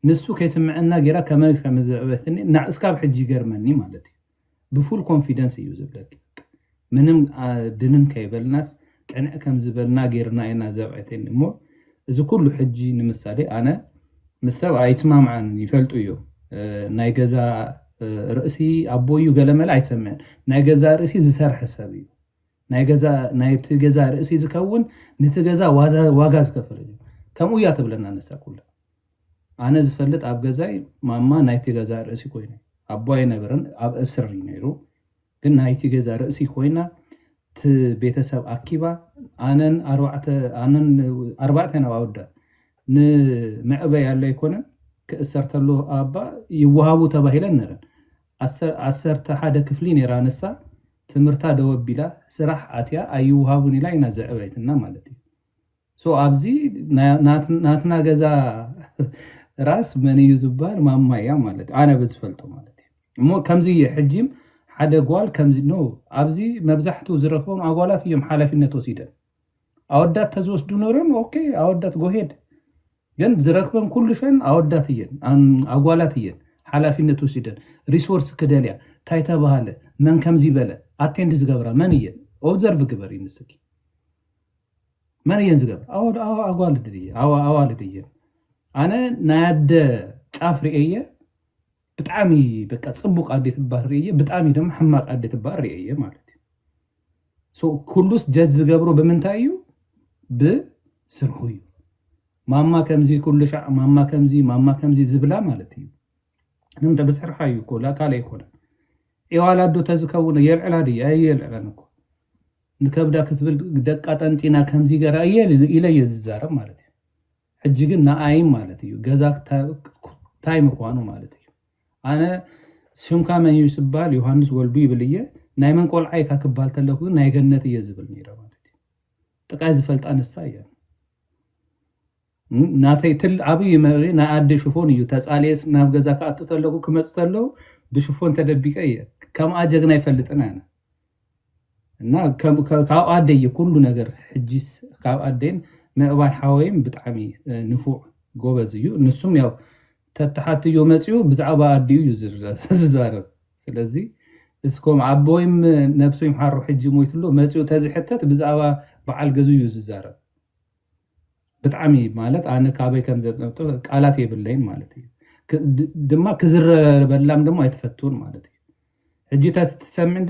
ንሱ ከይስመዐና ገይራ ከመይ ከምዘዕበየትኒ እስካብ ሕጂ ይገርመኒ ማለት እዩ ብፉል ኮንፊደንስ እዩ ዝብለኪ ምንም ድንን ከይበልናስ ቅንዕ ከምዝበልና ገይርና ኢና ዘብዐተኒ እሞ እዚ ኩሉ ሕጂ ንምሳሌ ኣነ ምስ ሰብ ኣይስማማዕን ይፈልጡ እዮም ናይ ገዛ ርእሲ ኣቦይ እዩ ገለመለ ኣይሰምዕን ናይ ገዛ ርእሲ ዝሰርሐ ሰብ እዩ። ናይ ገዛ ናይቲ ገዛ ርእሲ ዝከውን ንቲ ገዛ ዋጋ ዝከፈለሉ እዩ ከምኡ እያ ትብለና ንሳ ኩላ ኣነ ዝፈልጥ ኣብ ገዛይ ማማ ናይቲ ገዛ ርእሲ ኮይነ ኣቦ ኣይነበረን ኣብ እስር እዩ ነይሩ ግን ናይቲ ገዛ ርእሲ ኮይና ቲ ቤተሰብ ኣኪባ ኣነን ኣርባዕተ ኣነን ኣርባዕተ ናብ ኣወዳ ንምዕበይ ኣለ ኣይኮነን ክእሰር ተሎ ኣባ ይወሃቡ ተባሂለን ነረን ዓሰርተ ሓደ ክፍሊ ነይራ ንሳ ትምህርታ ደው ኣቢላ ስራሕ ኣትያ ኣይውሃቡን ኢላ ኢና ዘዕበየትና ማለት እዩ so ኣብዚ ናትና ገዛ ራስ መን እዩ ዝበሃል ማማ እያ ማለት ኣነ ብዝፈልጦ ማለት እዩ እሞ ከምዚ እየ ሕጂም ሓደ ጓል ከምዚ ኖ ኣብዚ መብዛሕትኡ ዝረክቦም ኣጓላት እዮም ሓላፊነት ወሲደን ኣወዳት ተዝወስዱ ነሮም ኦኬ ኣወዳት ጎሄድ ግን ዝረክበን ኩሉሸን ኣወዳት እየን ኣጓላት እየን ሓላፊነት ወሲደን ሪሶርስ ክደልያ እንታይ ተባሃለ መን ከምዚ በለ ኣቴንድ ዝገብራ መን እየን ኦብዘርቭ ግበሪ ንስኪ መን እየን ዝገብር ኣጓልድ ኣዋልድ እየን ኣነ ናይ ኣደ ጫፍ ርኤየ ብጣሚ በቃ ጽቡቅ ኣዴ ትባል ሪኤዬ ብጣሚ ደሞ ሕማቅ ኣዴ ትባል ሪኤዬ ማለት እዩ ሶ ኩሉስ ጀጅ ዝገብሮ ብምንታይ እዩ ብስርሑ እዩ ማማ ከምዚ ኩሉ ሻዕ ማማ ከምዚ ማማ ከምዚ ዝብላ ማለት እዩ ንምንታይ ብስርሓ እዩ እኮ ካልእ ኣይኮነን ዒዋላ ኣዶ ተዝከውን የልዕላ ድየ ኣየልዕለን እኮ ንከብዳ ክትብል ደቃ ጠንጢና ከምዚ ገራ ኢለ እየ ዝዛረብ ማለት እዩ ሕጂ ግን ንኣይም ማለት እዩ ገዛ ክታይ ምኳኑ ማለት እዩ ኣነ ሽምካ መን እዩ ስባል ዮሃንስ ወልዱ ይብል እየ ናይ መን ቆልዓ ኢካ ክባል ተለኩ ግን ናይ ገነት እየ ዝብል ነይረ ማለት እዩ ጥቃይ ዝፈልጣ ንሳ እያ ናተይ ትል ዓብይ መሪ ናይ ኣደ ሽፎን እዩ ተፃልየስ ናብ ገዛ ክኣቱ ተለኩ ክመፁ ተለው ብሽፎን ተደቢቀ እየ ከምኣ ጀግና ይፈልጥን ኣነ እና ካብ ኣደይ እዩ ኩሉ ነገር ሕጂስ ካብ ኣደይን ምዕባይ ሓወይም ብጣዕሚ ንፉዕ ጎበዝ እዩ ንሱም ያው ተተሓትዮ መፅኡ ብዛዕባ ኣዲኡ እዩ ዝዛረብ ስለዚ እስኮም ኣቦይም ነብሱ ይምሓሮ ሕጂ ሞይትሎ መፅኡ ተዝሕተት ብዛዕባ በዓል ገዙ እዩ ዝዛረብ ብጣዕሚ ማለት ኣነ ካበይ ከም ዘምጦ ቃላት የብለይን ማለት እዩ ድማ ክዝረበላም ድማ ኣይትፈትውን ማለት እዩ ሕጂ እታ ትሰምዕ እንተ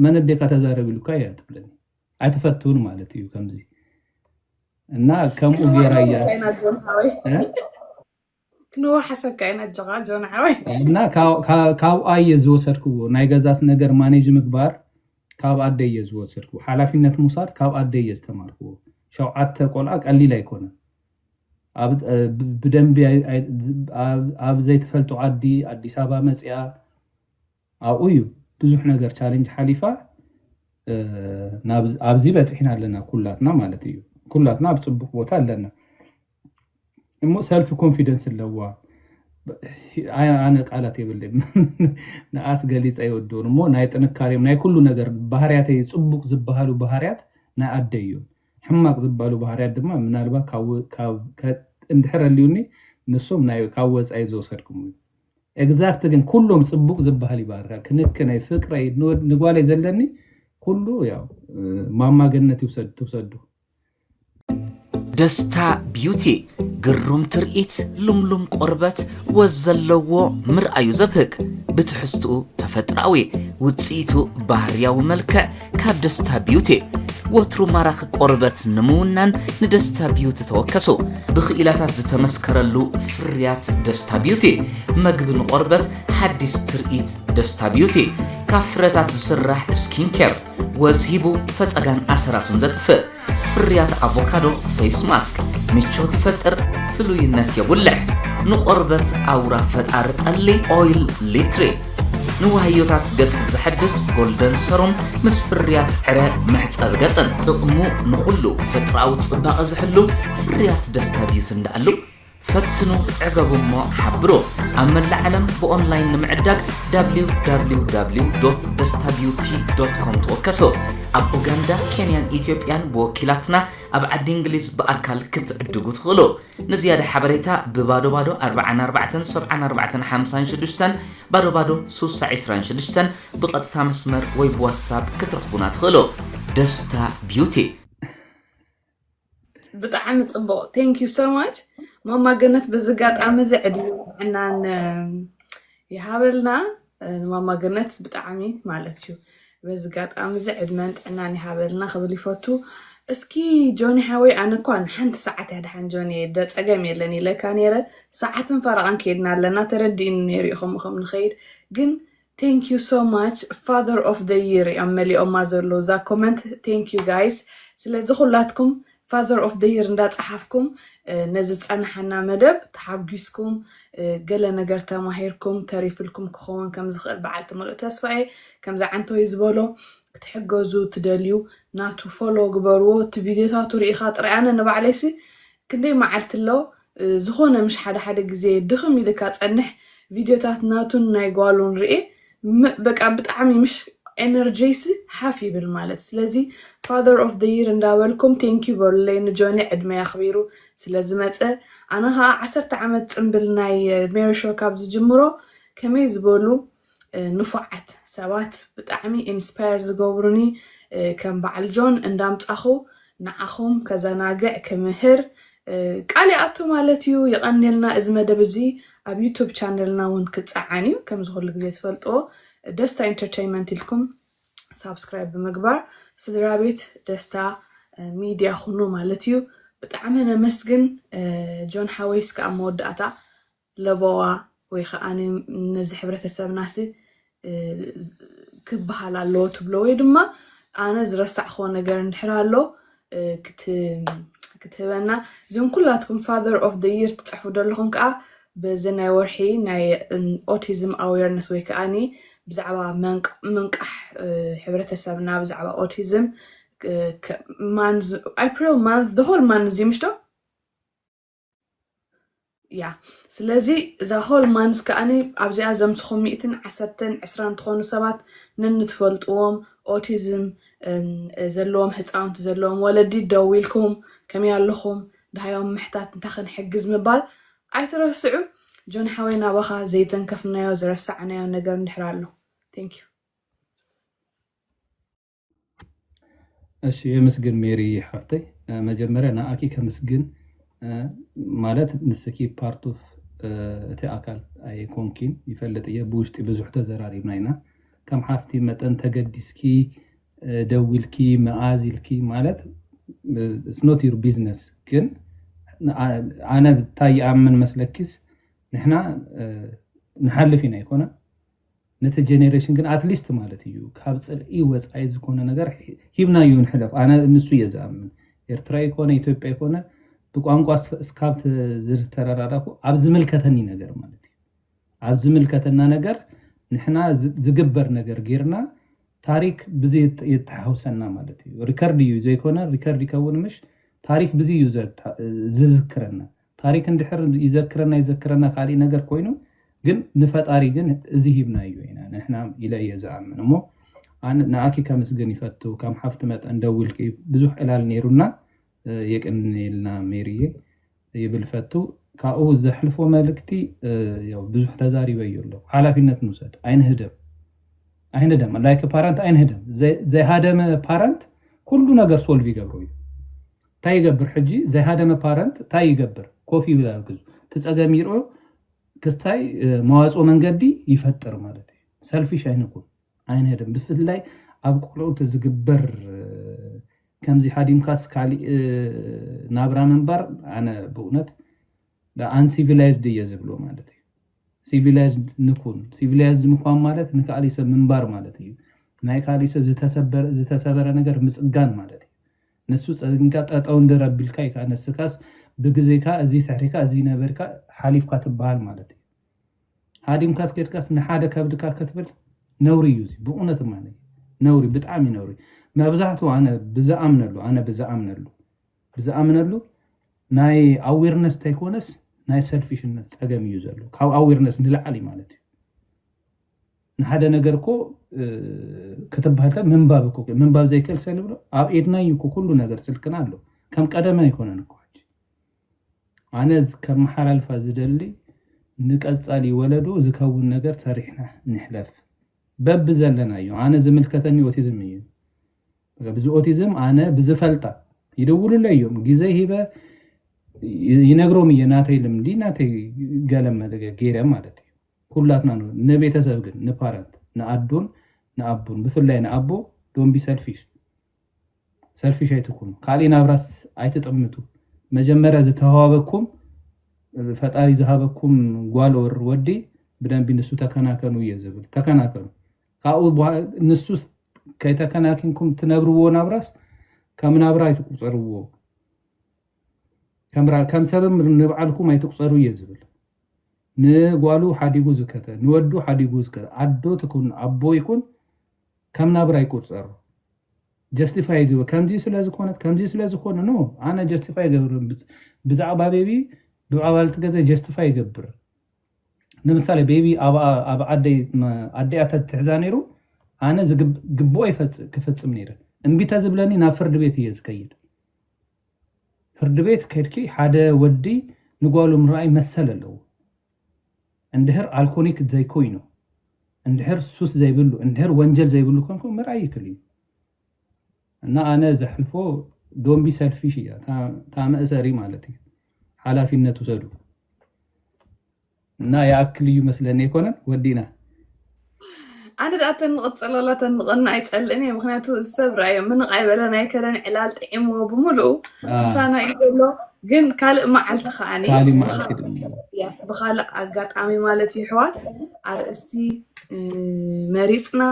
መን ዴካ ተዛረብ ኢሉካ እያ ትብለኒ ኣይትፈትውን ማለት እዩ ከምዚ እና ከምኡ ጌራ እያ ክንወሓሰካ ኢና ኣጆኻ ጆን ሓወይ። እና ካብኣ እየ ዝወሰድክዎ ናይ ገዛስ ነገር ማኔጅ ምግባር ካብ ኣደይ እየ ዝወሰድክዎ ሓላፊነት ምውሳድ ካብ ኣደይ እየ ዝተማርክዎ ሸውዓተ ቆልዓ ቀሊል ኣይኮነን ብደንቢ ኣብ ዘይትፈልጦ ዓዲ ኣዲስ ኣበባ መፅኣ ኣብኡ እዩ ብዙሕ ነገር ቻለንጅ ሓሊፋ ኣብዚ በፂሕና ኣለና ኩላትና ማለት እዩ ኩላትና ኣብ ፅቡቅ ቦታ ኣለና እሞ ሰልፊ ኮንፊደንስ ኣለዋ ኣነ ቃላት የብል ንኣስ ገሊፀ ይወድውን እሞ ናይ ጥንካሬም ናይ ኩሉ ነገር ባህርያተ ፅቡቅ ዝበሃሉ ባህርያት ናይ ኣደ እዩ ሕማቅ ዝበሉ ባህርያት ድማ ምናልባት እንድሕር ኣልዩኒ ንሶም ካብ ወፃኢ ዝወሰድኩም እዩ ኤግዛክት ግን ኩሎም ፅቡቅ ዝበሃል እዩ ባህርካ ክንክነይ ፍቅረይ ንጓለይ ዘለኒ ኩሉ ያው ማማ ገነት ይውሰድ ትውሰዱ ደስታ ቢዩቲ ግሩም ትርኢት ልምሉም ቆርበት ወዝ ዘለዎ ምርኣዩ ዘብህግ ብትሕዝትኡ ተፈጥራዊ ውፅኢቱ ባህርያዊ መልክዕ ካብ ደስታ ቢዩቲ ወትሩ ማራኺ ቆርበት ንምውናን ንደስታ ቢዩቲ ተወከሱ ብክኢላታት ዝተመስከረሉ ፍርያት ደስታ ቢዩቲ መግቢ ንቆርበት ሓዲስ ትርኢት ደስታ ቢዩቲ ካብ ፍረታት ዝስራሕ ስኪን ኬር ወዝ ሂቡ ፈፀጋን ኣሰራቱን ዘጥፍእ ፍርያት ኣቮካዶ ፌስ ማስክ ምቾት ይፈጥር፣ ፍሉይነት የጉልሕ። ንቆርበት ኣውራ ፈጣሪ ጠሊ ኦይል ሊትሪ ንዋህዮታት ገጽ ዘሐድስ ጎልደን ሰሩም ምስ ፍርያት ዕረ መሕጸቢ ገጽን ጥቕሙ ንኹሉ ፈጥራዊ ጽባቐ ዝሕሉ ፍርያት ደስታ ቢዩቲ እንዳኣሉ ፈትኑ ዕገቡ እሞ ሓብሩ። ኣብ መላእ ዓለም ብኦንላይን ንምዕዳግ www ደስታ ቢዩቲ ኮም ተወከሱ። ኣብ ኡጋንዳ፣ ኬንያን ኢትዮጵያን ብወኪላትና ኣብ ዓዲ እንግሊዝ ብኣካል ክትዕድጉ ትኽእሉ። ንዝያዳ ሓበሬታ ብባዶ ባዶ 44 74 56 ባዶ ባዶ 626 ብቐጥታ መስመር ወይ ብዋትሳፕ ክትረኽቡና ትኽእሉ። ደስታ ቢዩቲ ብጣዕሚ ጽቡቕ ቴንክ ዩ ሶ ማች ማማ ገነት በዚ ኣጋጣሚ እዚ ዕድመ ጥዕናን ይሃበልና ማማ ገነት ብጣዕሚ ማለት እዩ በዚ ኣጋጣሚ እዚ ዕድመን ጥዕናን ይሃበልና ክብል ይፈቱ እስኪ ጆኒ ሓወይ ኣነ እኳ ንሓንቲ ሰዓት እያ ድሓን ጆኒ ጸገም የለን ኢለካ ነይረ ሰዓትን ፈረቓን ከይድና ኣለና ተረዲእኒ ነይሩ ኢኹም ከም ንኸይድ ግን Thank you so much father of the year እዮም መሊኦማ ዘለዉ እዛ comment thank you guys ስለዚ ኩላትኩም father of the year እንዳጸሓፍኩም ነዚ ዝጸናሓና መደብ ተሓጒስኩም ገለ ነገር ተማሂርኩም ተሪፍልኩም ክኸውን ከም ዝኽእል በዓልቲ ምሉእ ተስፋ እየ ከምዚ ዓንተወይ ዝበሎ ክትሕገዙ ትደልዩ ናቱ ፎሎ ግበርዎ እቲ ቪድዮታቱ ርኢኻ ጥራይ ኣነ ንባዕለይሲ ክንደይ መዓልቲ ኣሎ ዝኾነ ምሽ ሓደ ሓደ ግዜ ድኽም ኢልካ ጸንሕ ቪድዮታት ናቱን ናይ ጓሉን ርኤ በቃ ብጣዕሚ ምሽ ኤነርጀይሲ ሓፍ ይብል ማለት ስለዚ ፋዘር ኦፍ ዘ ይር እንዳበልኩም ቴንኪዩ በሉለይ ንጆኒ ዕድመይ ኣኽቢሩ ስለ ዝመጸ ኣነ ኸኣ ዓሰርተ ዓመት ጽምብል ናይ ሜሪ ሾው ካብ ዝጅምሮ ከመይ ዝበሉ ንፉዓት ሰባት ብጣዕሚ ኢንስፓየር ዝገብሩኒ ከም ባዓል ጆን እንዳምጻኹ ንዓኹም ከዘናግዕ ክምህር ቃል ይኣቱ ማለት እዩ ይቀንየልና እዚ መደብ እዚ ኣብ ዩቱብ ቻነልና ውን ክጻዓን እዩ ከምዚ ኩሉ ግዜ ትፈልጥዎ ደስታ ኢንተርተይመንት ኢልኩም ሳብስክራይብ ብምግባር ስድራቤት ደስታ ሚድያ ኩኑ ማለት እዩ ብጣዕሚ ነመስግን ጆን ሓወይ እስከ ኣብ መወዳእታ ለበዋ ወይ ከኣ ነዚ ሕብረተሰብናሲ ክበሃል ኣለዎ ትብሎ ወይ ድማ ኣነ ዝረሳዕክዎ ነገር እንድሕር ኣሎ ክትህበና እዞም ኩላትኩም ፋዘር ኦፍ ደ ይር ትጽሕፉ ዘለኹም ከኣ በዚ ናይ ወርሒ ናይ ኦቲዝም ኣዌርነስ ወይ ከኣኒ ብዛዕባ ምንቃሕ ሕብረተሰብና ብዛዕባ ኦቲዝም ማንዝ ኣፕሪል ማንዝ ደሆል ማንዝ እዩ ምሽቶ እያ ስለዚ እዛ ሆል ማንስ ከዓኒ ኣብዚኣ ዘምስኹም ሚእትን ዓሰርተን ዕስራን ትኾኑ ሰባት ነንትፈልጥዎም ኦቲዝም ዘለዎም ህፃውንቲ ዘለዎም ወለዲ ደው ኢልኩም ከመይ ኣለኹም ድሃዮም ምሕታት እንታይ ክንሕግዝ ምባል ኣይትረስዑ ጆን ሓወይ ናባኻ ዘይተንከፍናዮ ዝረሳዕናዮ ነገር እንድሕር ኣሎ ቴንክ ዩ እሺ የምስግን ሜሪ ሓፍተይ መጀመርያ ንኣኪ ከምስግን ማለት ንስኪ ፓርት ኦፍ እቲ ኣካል ኣይኮንኪን ይፈልጥ እየ ብውሽጢ ብዙሕ ተዘራሪብና ኢና ከም ሓፍቲ መጠን ተገዲስኪ ደዊልኪ መኣዝ ኢልኪ ማለት ኢትስ ኖት ዩር ቢዝነስ ግን ኣነ ታይ ይኣምን መስለኪስ ንሕና ንሓልፍ ኢና ኣይኮነን ነቲ ጀኔሬሽን ግን ኣትሊስት ማለት እዩ ካብ ፅልኢ ወፃኢ ዝኾነ ነገር ሂብናዮ ንሕለፍ ኣነ ንሱ እየ ዝኣምን ኤርትራ ይኮነ ኢትዮጵያ ይኮነ ብቋንቋ እስካብ ዝተረዳዳኩ ኣብ ዝምልከተኒ ነገር ማለት እዩ ኣብ ዝምልከተና ነገር ንሕና ዝግበር ነገር ጌርና ታሪክ ብዚ የተሓውሰና ማለት እዩ ሪከርድ እዩ ዘይኮነ ሪከርድ ይከውን ምሽ ታሪክ ብዚ እዩ ዝዝክረና ታሪክ እንድሕር ይዘክረና ይዘክረና ካሊእ ነገር ኮይኑ ግን ንፈጣሪ ግን እዚ ሂብናዮ ኢና ንሕና ኢለ እየ ዝኣምን እሞ ኣነ ንኣኪ ከምስግን ይፈቱ ከም ሓፍቲ መጠን ደዊልኪ ብዙሕ ዕላል ነይሩና የቅንየልና ሜሪየ ይብል ፈቱ ካብኡ ዘሕልፎ መልእክቲ ያው ብዙሕ ተዛሪበዮ ኣለኩ ሓላፊነት ንውሰድ ኣይንህደም ኣይንደም ላይክ ፓረንት ኣይንህደም ዘይሃደመ ፓረንት ኩሉ ነገር ሶልቭ ይገብሮ እዩ ታይ ይገብር ሕጂ ዘይሃደመ ፓረንት ታይ ይገብር ኮፍ ይብል ኣርግዙ እቲ ፀገም ይርኦ ክስታይ መዋፅኦ መንገዲ ይፈጥር ማለት እዩ ሰልፊሽ ኣይንኩን ኣይንሀደም ብፍላይ ኣብ ቆልዑት ዝግበር ከምዚ ሃዲምካስ ካሊእ ናብራ ምንባር ኣነ ብእውነት ኣንሲቪላይዝድ እየ ዝብሎ ማለት እዩ ሲቪላይዝድ ንኩን ሲቪላይዝድ ምኳን ማለት ንካሊእ ሰብ ምንባር ማለት እዩ ናይ ካሊእ ሰብ ዝተሰበረ ነገር ምፅጋን ማለት እዩ ንሱ ጸግንካ ጠጠው እንድር ኣቢልካ እዩ ከኣ ንስካስ ብግዜካ እዚ ስሕሪካ እዚ ነበርካ ሓሊፍካ ትበሃል ማለት እዩ ሃዲምካስ ከድካስ ንሓደ ከብድካ ክትብል ነውሪ እዩ እዚ ብእውነት እማነ ነውሪ ብጣዕሚ ነውሪ መብዛሕትኡ ኣነ ብዝኣምነሉ ኣነ ብዝኣምነሉ ብዝኣምነሉ ናይ ኣዌርነስ ተይኮነስ ናይ ሰልፊሽነት ጸገም እዩ ዘሎ ካብ ኣዌርነስ ንላዕሊ ማለት እዩ ንሓደ ነገር እኮ ክትብሃል ከ ምንባብ እኮ ምንባብ ዘይክእል ሰብ ንብሎ ኣብ ኢድና እዩ እኮ ኩሉ ነገር ስልክና ኣሎ ከም ቀደመ ኣይኮነን እኮ ሕጂ ኣነ ከመሓላልፋ ዝደሊ ንቀፃሊ ወለዶ ዝከውን ነገር ሰሪሕና ንሕለፍ በቢ ዘለና እዩ ኣነ ዝምልከተኒ ኦቲዝም እዩ ብዚ ኦቲዝም ኣነ ብዝፈልጣ ይደውሉለይ እዮም ግዜ ሂበ ይነግሮም እየ ናተይ ልምዲ ናተይ ገለ ገይረ ማለት እዩ ኩላትና ን ንቤተሰብ ግን ንፓረንት ንኣዶን ንኣቡን ብፍላይ ንኣቦ ዶን ቢ ሰልፊሽ ሰልፊሽ ኣይትኩኑ ካሊእ ናብራስ ኣይትጠምቱ መጀመርያ ዝተሃዋበኩም ፈጣሪ ዝሃበኩም ጓል ኦር ወዲ ብደንቢ ንሱ ተከናከኑ እየ ዝብል ተከናከኑ ካብኡ ንሱ ከይተከናኪንኩም ትነብርዎ ናብራስ ከም ናብራ ኣይትቁፀርዎ ከም ሰብም ንብዓልኩም ኣይትቁፀሩ እየ ዝብል ንጓሉ ሓዲጉ ዝከተ ንወዱ ሓዲጉ ዝከተ ኣዶ ትኩን ኣቦ ይኩን ከም ናብራ ይቁጸር ጀስቲፋይ ይግበር ከምዚ ስለ ዝኮነት ከምዚ ስለ ዝኮነ ኖ ኣነ ጀስቲፋይ ይገብር ብዛዕባ ቤቢ ብኣባልቲ ገዛ ጀስቲፋይ ይገብር ንምሳሌ ቤቢ ኣብ ኣደይ ኣደያ ተትሕዛ ነይሩ ኣነ ዝግብኦ ክፍጽም ነይረ እምቢ ተዝብለኒ ናብ ፍርዲ ቤት እየ ዝከይድ ፍርድቤት ከድኪ ሓደ ወዲ ንጓሉ ምራኣይ መሰል ኣለዎ እንድህር ኣልኮኒክ ዘይኮይኑ እንድህር ሱስ ዘይብሉ እንድህር ወንጀል ዘይብሉ ኮንኩ ምርኣይ ይክል እዩ እና ኣነ ዘሕልፎ ዶምቢ ሰልፊሽ እያ ታመእሰሪ ማለት እዩ ሓላፊነት ውሰዱ እና ይኣክል እዩ መስለኒ ኣይኮነን ወዲእና ኣነ ደኣ ተንቕጽለላ ተንቕና ኣይጸልእን እየ ምክንያቱ ሰብ ራእዮ ምንቕ ኣይበለን ኣይከለን ዕላል ጥዒምዎ ብምልኡ ምሳና እዩ ዘሎ ግን ካልእ መዓልቲ ከዓኒ ካልእ መዓልቲ ድማ ያስ ብካልእ ኣጋጣሚ ማለት እዩ ኣሕዋት ኣርእስቲ መሪፅና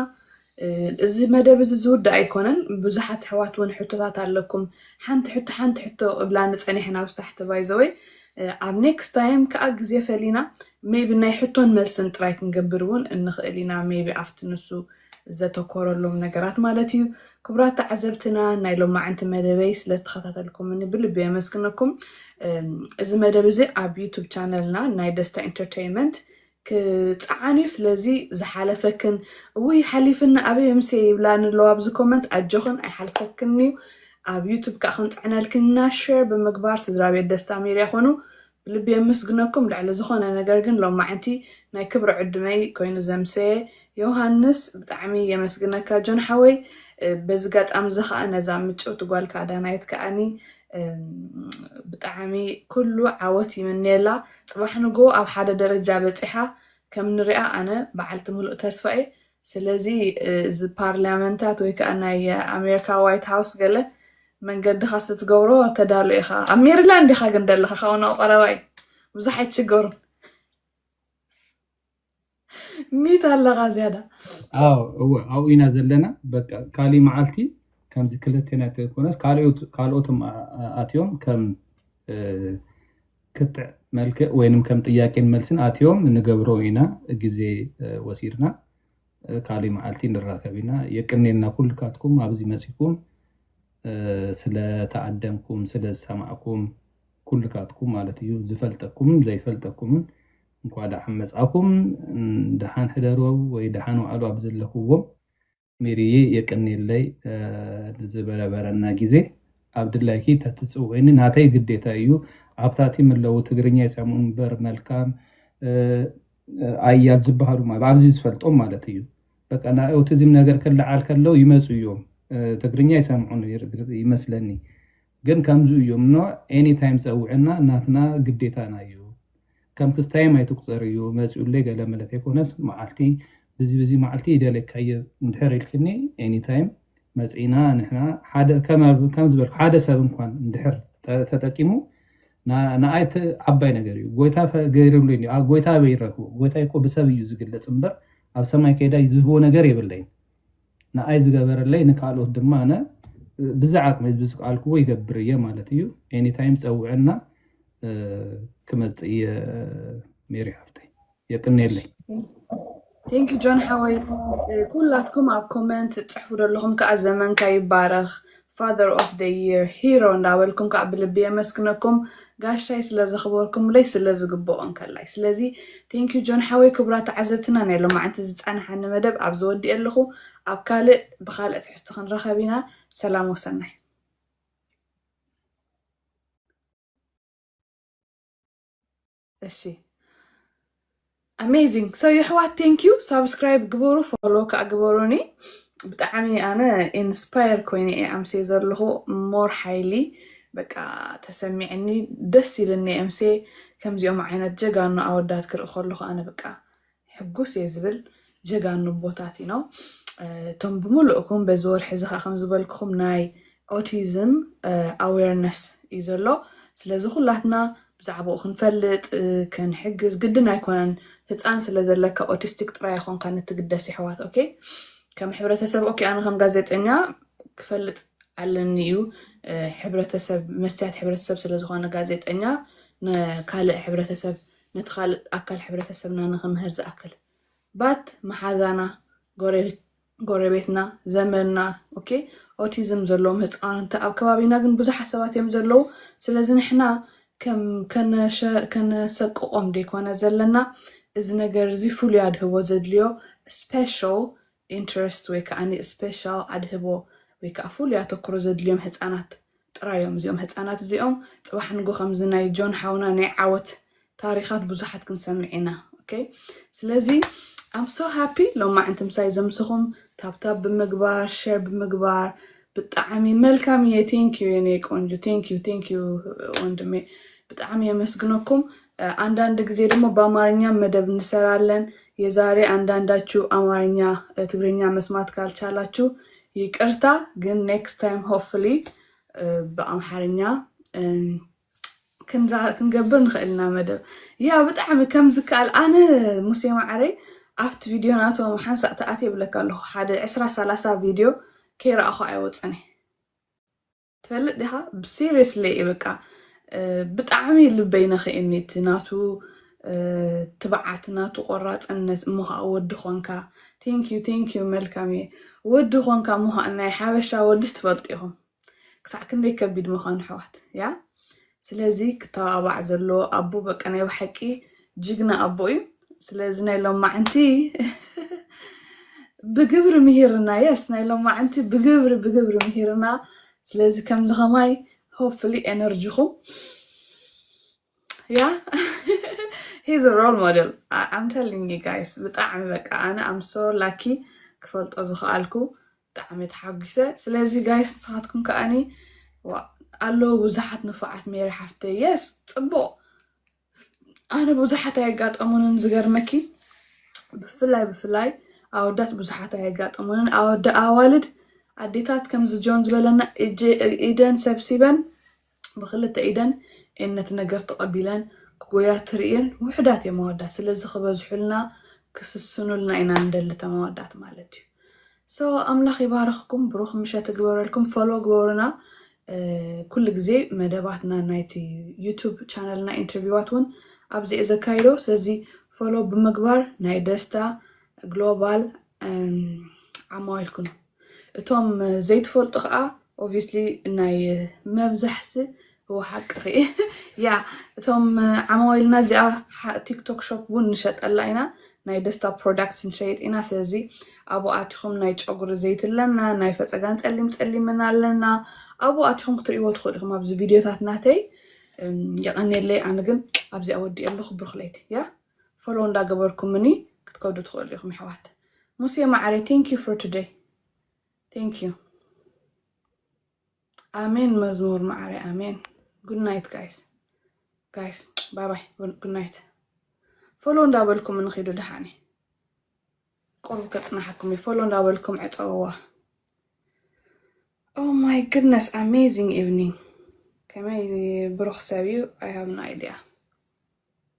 እዚ መደብ እዚ ዝውዳእ ኣይኮነን ብዙሓት ኣሕዋት እውን ሕቶታት ኣለኩም ሓንቲ ሕቶ ሓንቲ ሕቶ እብላኒ ፀኒሐን ኣብዚ ታሕቲ ባይዘወይ ኣብ ኔክስት ታይም ከዓ ግዜ ፈሊና ሜቢ ናይ ሕቶን መልስን ጥራይ ክንገብር እውን እንኽእል ኢና ሜቢ ኣብቲ ንሱ ዘተኮረሎም ነገራት ማለት እዩ ክቡራት ተዓዘብትና ናይ ሎማዕንቲ መደበይ ስለዝተኸታተልኩምኒ ብልቢ የመስግነኩም እዚ መደብ እዚ ኣብ ዩቱብ ቻነልና ናይ ደስታ ኢንተርቴይንመንት ክጸዓን እዩ ስለዚ ዝሓለፈክን እውይ ሓሊፍኒ ኣበይ ምምስየ ይብላኒ ኣለዋ ኣብዚ ኮመንት ኣጆኽን ኣይሓልፈክን እዩ ኣብ ዩቱብ ከኣ ክንጽዕነልክን ኢና ሸር ብምግባር ስድራቤት ደስታ ሜድያ ኮኑ ብልቢ የመስግነኩም ልዕሊ ዝኾነ ነገር ግን ሎማዕንቲ ናይ ክብሪ ዕዱመይ ኮይኑ ዘምሰየ ዮውሃንስ ብጣዕሚ የመስግነካ ጆን ሓወይ በዚ ጋጣም እዚ ከዓ ነዛ ምጭውቲ ጓልካ ዳናይት ከዓኒ ብጣዕሚ ኩሉ ዓወት ይምነየላ ፅባሕ ንጎ ኣብ ሓደ ደረጃ በፂሓ ከም ንሪኣ ኣነ በዓልቲ ምሉእ ተስፋ እየ ስለዚ እዚ ፓርላመንታት ወይ ከዓ ናይ ኣሜሪካ ዋይት ሃውስ ገለ መንገድኻ ስትገብሮ ተዳሎ ኢኻ ኣብ ሜሪላንድ ኢኻ ግን ደለኻ ካብኡ ናብ ቀረባ እዩ ብዙሕ ኣይትሽገሩን ሚት ኣለኻ ዝያዳ እወ ኣብኡ ኢና ዘለና በቃ ካሊእ መዓልቲ ከምዚ ክልቴና ተይኮነስ ካልኦትም ኣትዮም ከም ክትዕ መልክዕ ወይንም ከም ጥያቄን መልስን ኣትዮም ንገብሮ ኢና ግዜ ወሲድና ካሊእ መዓልቲ ንራከብ ኢና የቅኔልና ኩልካትኩም ኣብዚ መፅኩም ስለተኣደምኩም ስለዝሰማዕኩም ኩልካትኩም ማለት እዩ ዝፈልጠኩምን ዘይፈልጠኩምን እንኳዕ ደሓን መፃእኩም ደሓን ሕደሩ ወይ ደሓን ዋዕሉ ኣብ ዘለክዎ ሚሪየይ የቅንየለይ ንዝበረበረና ግዜ ኣብ ድላይኪ ተትፅውዕኒ ናተይ ግዴታ እዩ ኣብታቲ ምለው ትግርኛ ይሰምዑ እምበር መልካም ኣያል ዝበሃሉ ማለት ኣብዚ ዝፈልጦም ማለት እዩ በቃ ናይ ኦቲዝም ነገር ክለዓል ከለው ይመፁ እዮም ትግርኛ ይሰምዑ ይመስለኒ ግን ከምዚ እዩ እምኖ ኤኒ ታይም ጸውዕና ናትና ግዴታና እዩ ከም ክስታይም ኣይትቁጸር እዩ መጺኡለይ ገለ መለት ኣይኮነስ መዓልቲ ብዚ ብዚ መዓልቲ ይደልየካ እየ እንድሕር ኢልክኒ ኤኒ ታይም መጺና ንሕና ሓደ ከም ዝበልኩ ሓደ ሰብ እንኳን እንድሕር ተጠቂሙ ንኣይ ዓባይ ነገር እዩ ጎይታ ገይርሉ እዩ ጎይታ ኣበይ ይረክቡ ጎይታ እኮ ብሰብ እዩ ዝግለጽ እምበር ኣብ ሰማይ ከይዳ ዝህቦ ነገር የብለይን ንኣይ ዝገበረለይ ንካልኦት ድማ ኣነ ብዝዓቅመይ ብዝክኣልክዎ ይገብር እየ ማለት እዩ ኤኒ ታይም ፀውዕና ክመፅእ እየ ሜሪ ሓፍተይ የቅኔለይ ቴንኪ ጆን ሓወይ ኩላትኩም ኣብ ኮመንት ትፅሕፉ ዘለኹም ከዓ ዘመንካ ይባረኽ Father of the year hero እንዳበልኩም ካኣ ብልቢ የመስግነኩም ጋሻይ ስለ ዘኽበርኩምለይ ስለ ዝግብኦ እንከላይ ስለዚ thank you ጆን ሓወይ ክቡራት ተዓዘብትና ናይ ሎማዓንቲ ዝጻንሓኒ መደብ ኣብዚ ወዲኤ ኣለኹ ኣብ ካልእ ብኻልእ ትሕዝቶ ክንራኸብ ኢና ሰላም ወሰናይ እሺ ኣሜዚንግ ሰው የሕዋት ቴንኪዩ ሳብስክራይብ ግበሩ ፎሎ ከዓ ግበሩኒ ብጣዕሚ ኣነ ኢንስፓየር ኮይነ እየ ኣምሴ ዘለኹ ሞር ሓይሊ በቃ ተሰሚዕኒ ደስ ኢልኒ ኣምሴ ከምዚኦም ዓይነት ጀጋኑ ኣወዳት ክርኢ ከለኹ ኣነ በቃ ሕጉስ እየ ዝብል ጀጋኑ ኣቦታት ኢና እቶም ብምልእኩም በዚ ወርሒ እዚ ከዓ ከምዝበልክኹም ናይ ኦቲዝም ኣዌርነስ እዩ ዘሎ ስለዚ ኩላትና ብዛዕባኡ ክንፈልጥ ክንሕግዝ ግድን ኣይኮነን ህፃን ስለ ዘለካ ኦቲስቲክ ጥራይ ኣይኮንካ ንትግደስ ይሕዋት ኦኬ ከም ሕብረተሰብ ኦኬ ኣነ ከም ጋዜጠኛ ክፈልጥ ኣለኒ እዩ ሕብረተሰብ መስትያት ሕብረተሰብ ስለዝኾነ ጋዜጠኛ ንካልእ ሕብረተሰብ ነቲ ካልእ ኣካል ሕብረተሰብና ንኽምህር ዝኣክል ባት መሓዛና፣ ጎረቤትና፣ ዘመድና ok ኦቲዝም ዘለዎም ህጻውንቲ ኣብ ከባቢና ግን ብዙሓት ሰባት እዮም ዘለዉ ስለዚ ንሕና ከም ከነሰቅቆም ደይኮነ ዘለና እዚ ነገር እዚ ፍሉይ ኣድህቦ ዘድልዮ ስፔሻል ኢንተረስት ወይ ከኣ ስፔሻል ኣድህቦ ወይ ከኣ ፍሉይ ኣተኩሮ ዘድልዮም ህጻናት ጥራይ እዮም። እዚኦም ህጻናት እዚኦም ጽባሕ ንግሆ ከምዚ ናይ ጆን ሓውና ናይ ዓወት ታሪኻት ብዙሓት ክንሰምዕ ኢና ኦኬ ስለዚ ኣም ሶ ሃፒ ሎማዕንቲ ምሳይ ዘምስኹም ታብታብ ብምግባር ሸር ብምግባር ብጣዕሚ መልካም እየ ቴንኪዩ የኔ ቆንጆ ቴንኪዩ ቴንኪዩ ወንድሜ ብጣዕሚ የመስግነኩም ኣንዳንድ ግዜ ደሞ በኣማርኛም መደብ እንሰራለን የዛሬ ኣንዳንዳችሁ ኣማርኛ ትግርኛ መስማት ካልቻላችሁ ይቅርታ ግን ኔክስት ታይም ሆፍሊ ብኣምሓርኛ ክንገብር ንኽእል ኢና መደብ ያ ብጣዕሚ ከም ዝከኣል ኣነ ሙሴ ማዕረይ ኣብቲ ቪድዮ ናቶም ሓንሳእ ተኣት የብለካ ኣለኹ ሓደ ዕስራ ሰላሳ ቪድዮ ከይረኣኹ ኣይወፅን እየ ትፈልጥ ዲኻ ሲሪየስሊ እዩ በቃ ብጣዕሚ ልበይ ነኺእኒ እቲ ናቱ ትብዓት ናቱ ቆራፅነት እሞ ከዓ ወዲ ኾንካ ቴንክዩ ቴንክዩ መልካም እየ ወዲ ኾንካ እሞ ከዓ ናይ ሓበሻ ወድስ ትፈልጡ ኢኹም ክሳዕ ክንደይ ከቢድ ምዃኑ ኣሕዋት ያ ስለዚ ክተባባዕ ዘለዎ ኣቦ በቃ ናይ ብሓቂ ጅግና ኣቦ እዩ ስለዚ ናይ ሎማዓንቲ ብግብሪ ምሂርና የስ ናይ ሎማዓንቲ ብግብሪ ብግብሪ ምሂርና ስለዚ ከምዚ ከማይ ሆፕፍሊ ኤነርጂኹም ያ ሂዝ ሮል ሞዴል ኣም ቴሊንግ ዩ ጋይስ ብጣዕሚ በቃ ኣነ ኣም ሶ ላኪ ክፈልጦ ዝኽኣልኩ ብጣዕሚ ተሓጒሰ ስለዚ ጋይስ ንስኻትኩም ከኣኒ ዋእ ኣለዉ ብዙሓት ንፉዓት ሜሪ ሓፍተይ የስ ጽቡቕ ኣነ ብዙሓት ኣየጋጠሙንን ዝገርመኪ ብፍላይ ብፍላይ ኣወዳት ብዙሓት ኣየጋጠሙንን ኣወዳ ኣዋልድ ኣዴታት ከምዚ ጆን ዝበለና ኢደን ሰብሲበን ብክልተ ኢደን እየን ነቲ ነገር ተቐቢለን ክጎያ ትርእየን ውሑዳት እየን መወዳት ስለዚ ክበዝሑልና ክስስኑልና ኢና ንደሊ ተመወዳት ማለት እዩ ሶ ኣምላኽ ይባርኽኩም ብሩኽ ምሸት ይግበረልኩም ፎሎ ግበሩና ኩሉ ግዜ መደባትና ናይቲ ዩቱብ ቻነልና ኢንተርቪዋት እውን ኣብዚ እየ ዘካይዶ ስለዚ ፎሎ ብምግባር ናይ ደስታ ግሎባል ዓማዊል ኩኑ እቶም ዘይትፈልጡ ከኣ ኦቪስሊ ናይ መብዛሕሲ እዎ ሓቅኺ ያ እቶም ዓማዊልና እዚኣ ቲክቶክ ሾፕ እውን ንሸጠላ ኢና ናይ ደስታ ፕሮዳክትስ ንሸይጥ ኢና ስለዚ ኣብኡ ኣቲኹም ናይ ጨጉሪ ዘይቲ ኣለና ናይ ፈፀጋን ፀሊም ፀሊምን ኣለና ኣብኡ ኣቲኹም ክትርእይዎ ትኽእሉ ኢኹም ኣብዚ ቪድዮታት ናተይ የቐኔለይ ኣነ ግን ኣብዚኣ ወዲእ ኣለኹ ብሩኽ ለይቲ ያ ፎሎው እንዳገበርኩምኒ ክትከዱ ትክእሉ ኢኩም የሕዋት ሙስየ ማዓረይ thank you for today thank you ኣሜን መዝሙር ማዓረይ ኣሜን good night guys guys bye bye good night ፎሎው እንዳበልኩም ንኺዱ ድሓኒ ቁሩብ ከጽናሓኩም እዩ ፎሎ እንዳበልኩም ዕፀውዋ ኦ ማይ ግድነስ ኣሜዚንግ ኢቭኒንግ ከመይ ብሩኽ ሰብ እዩ ኣይ ሃብ ኖ ኣይዲያ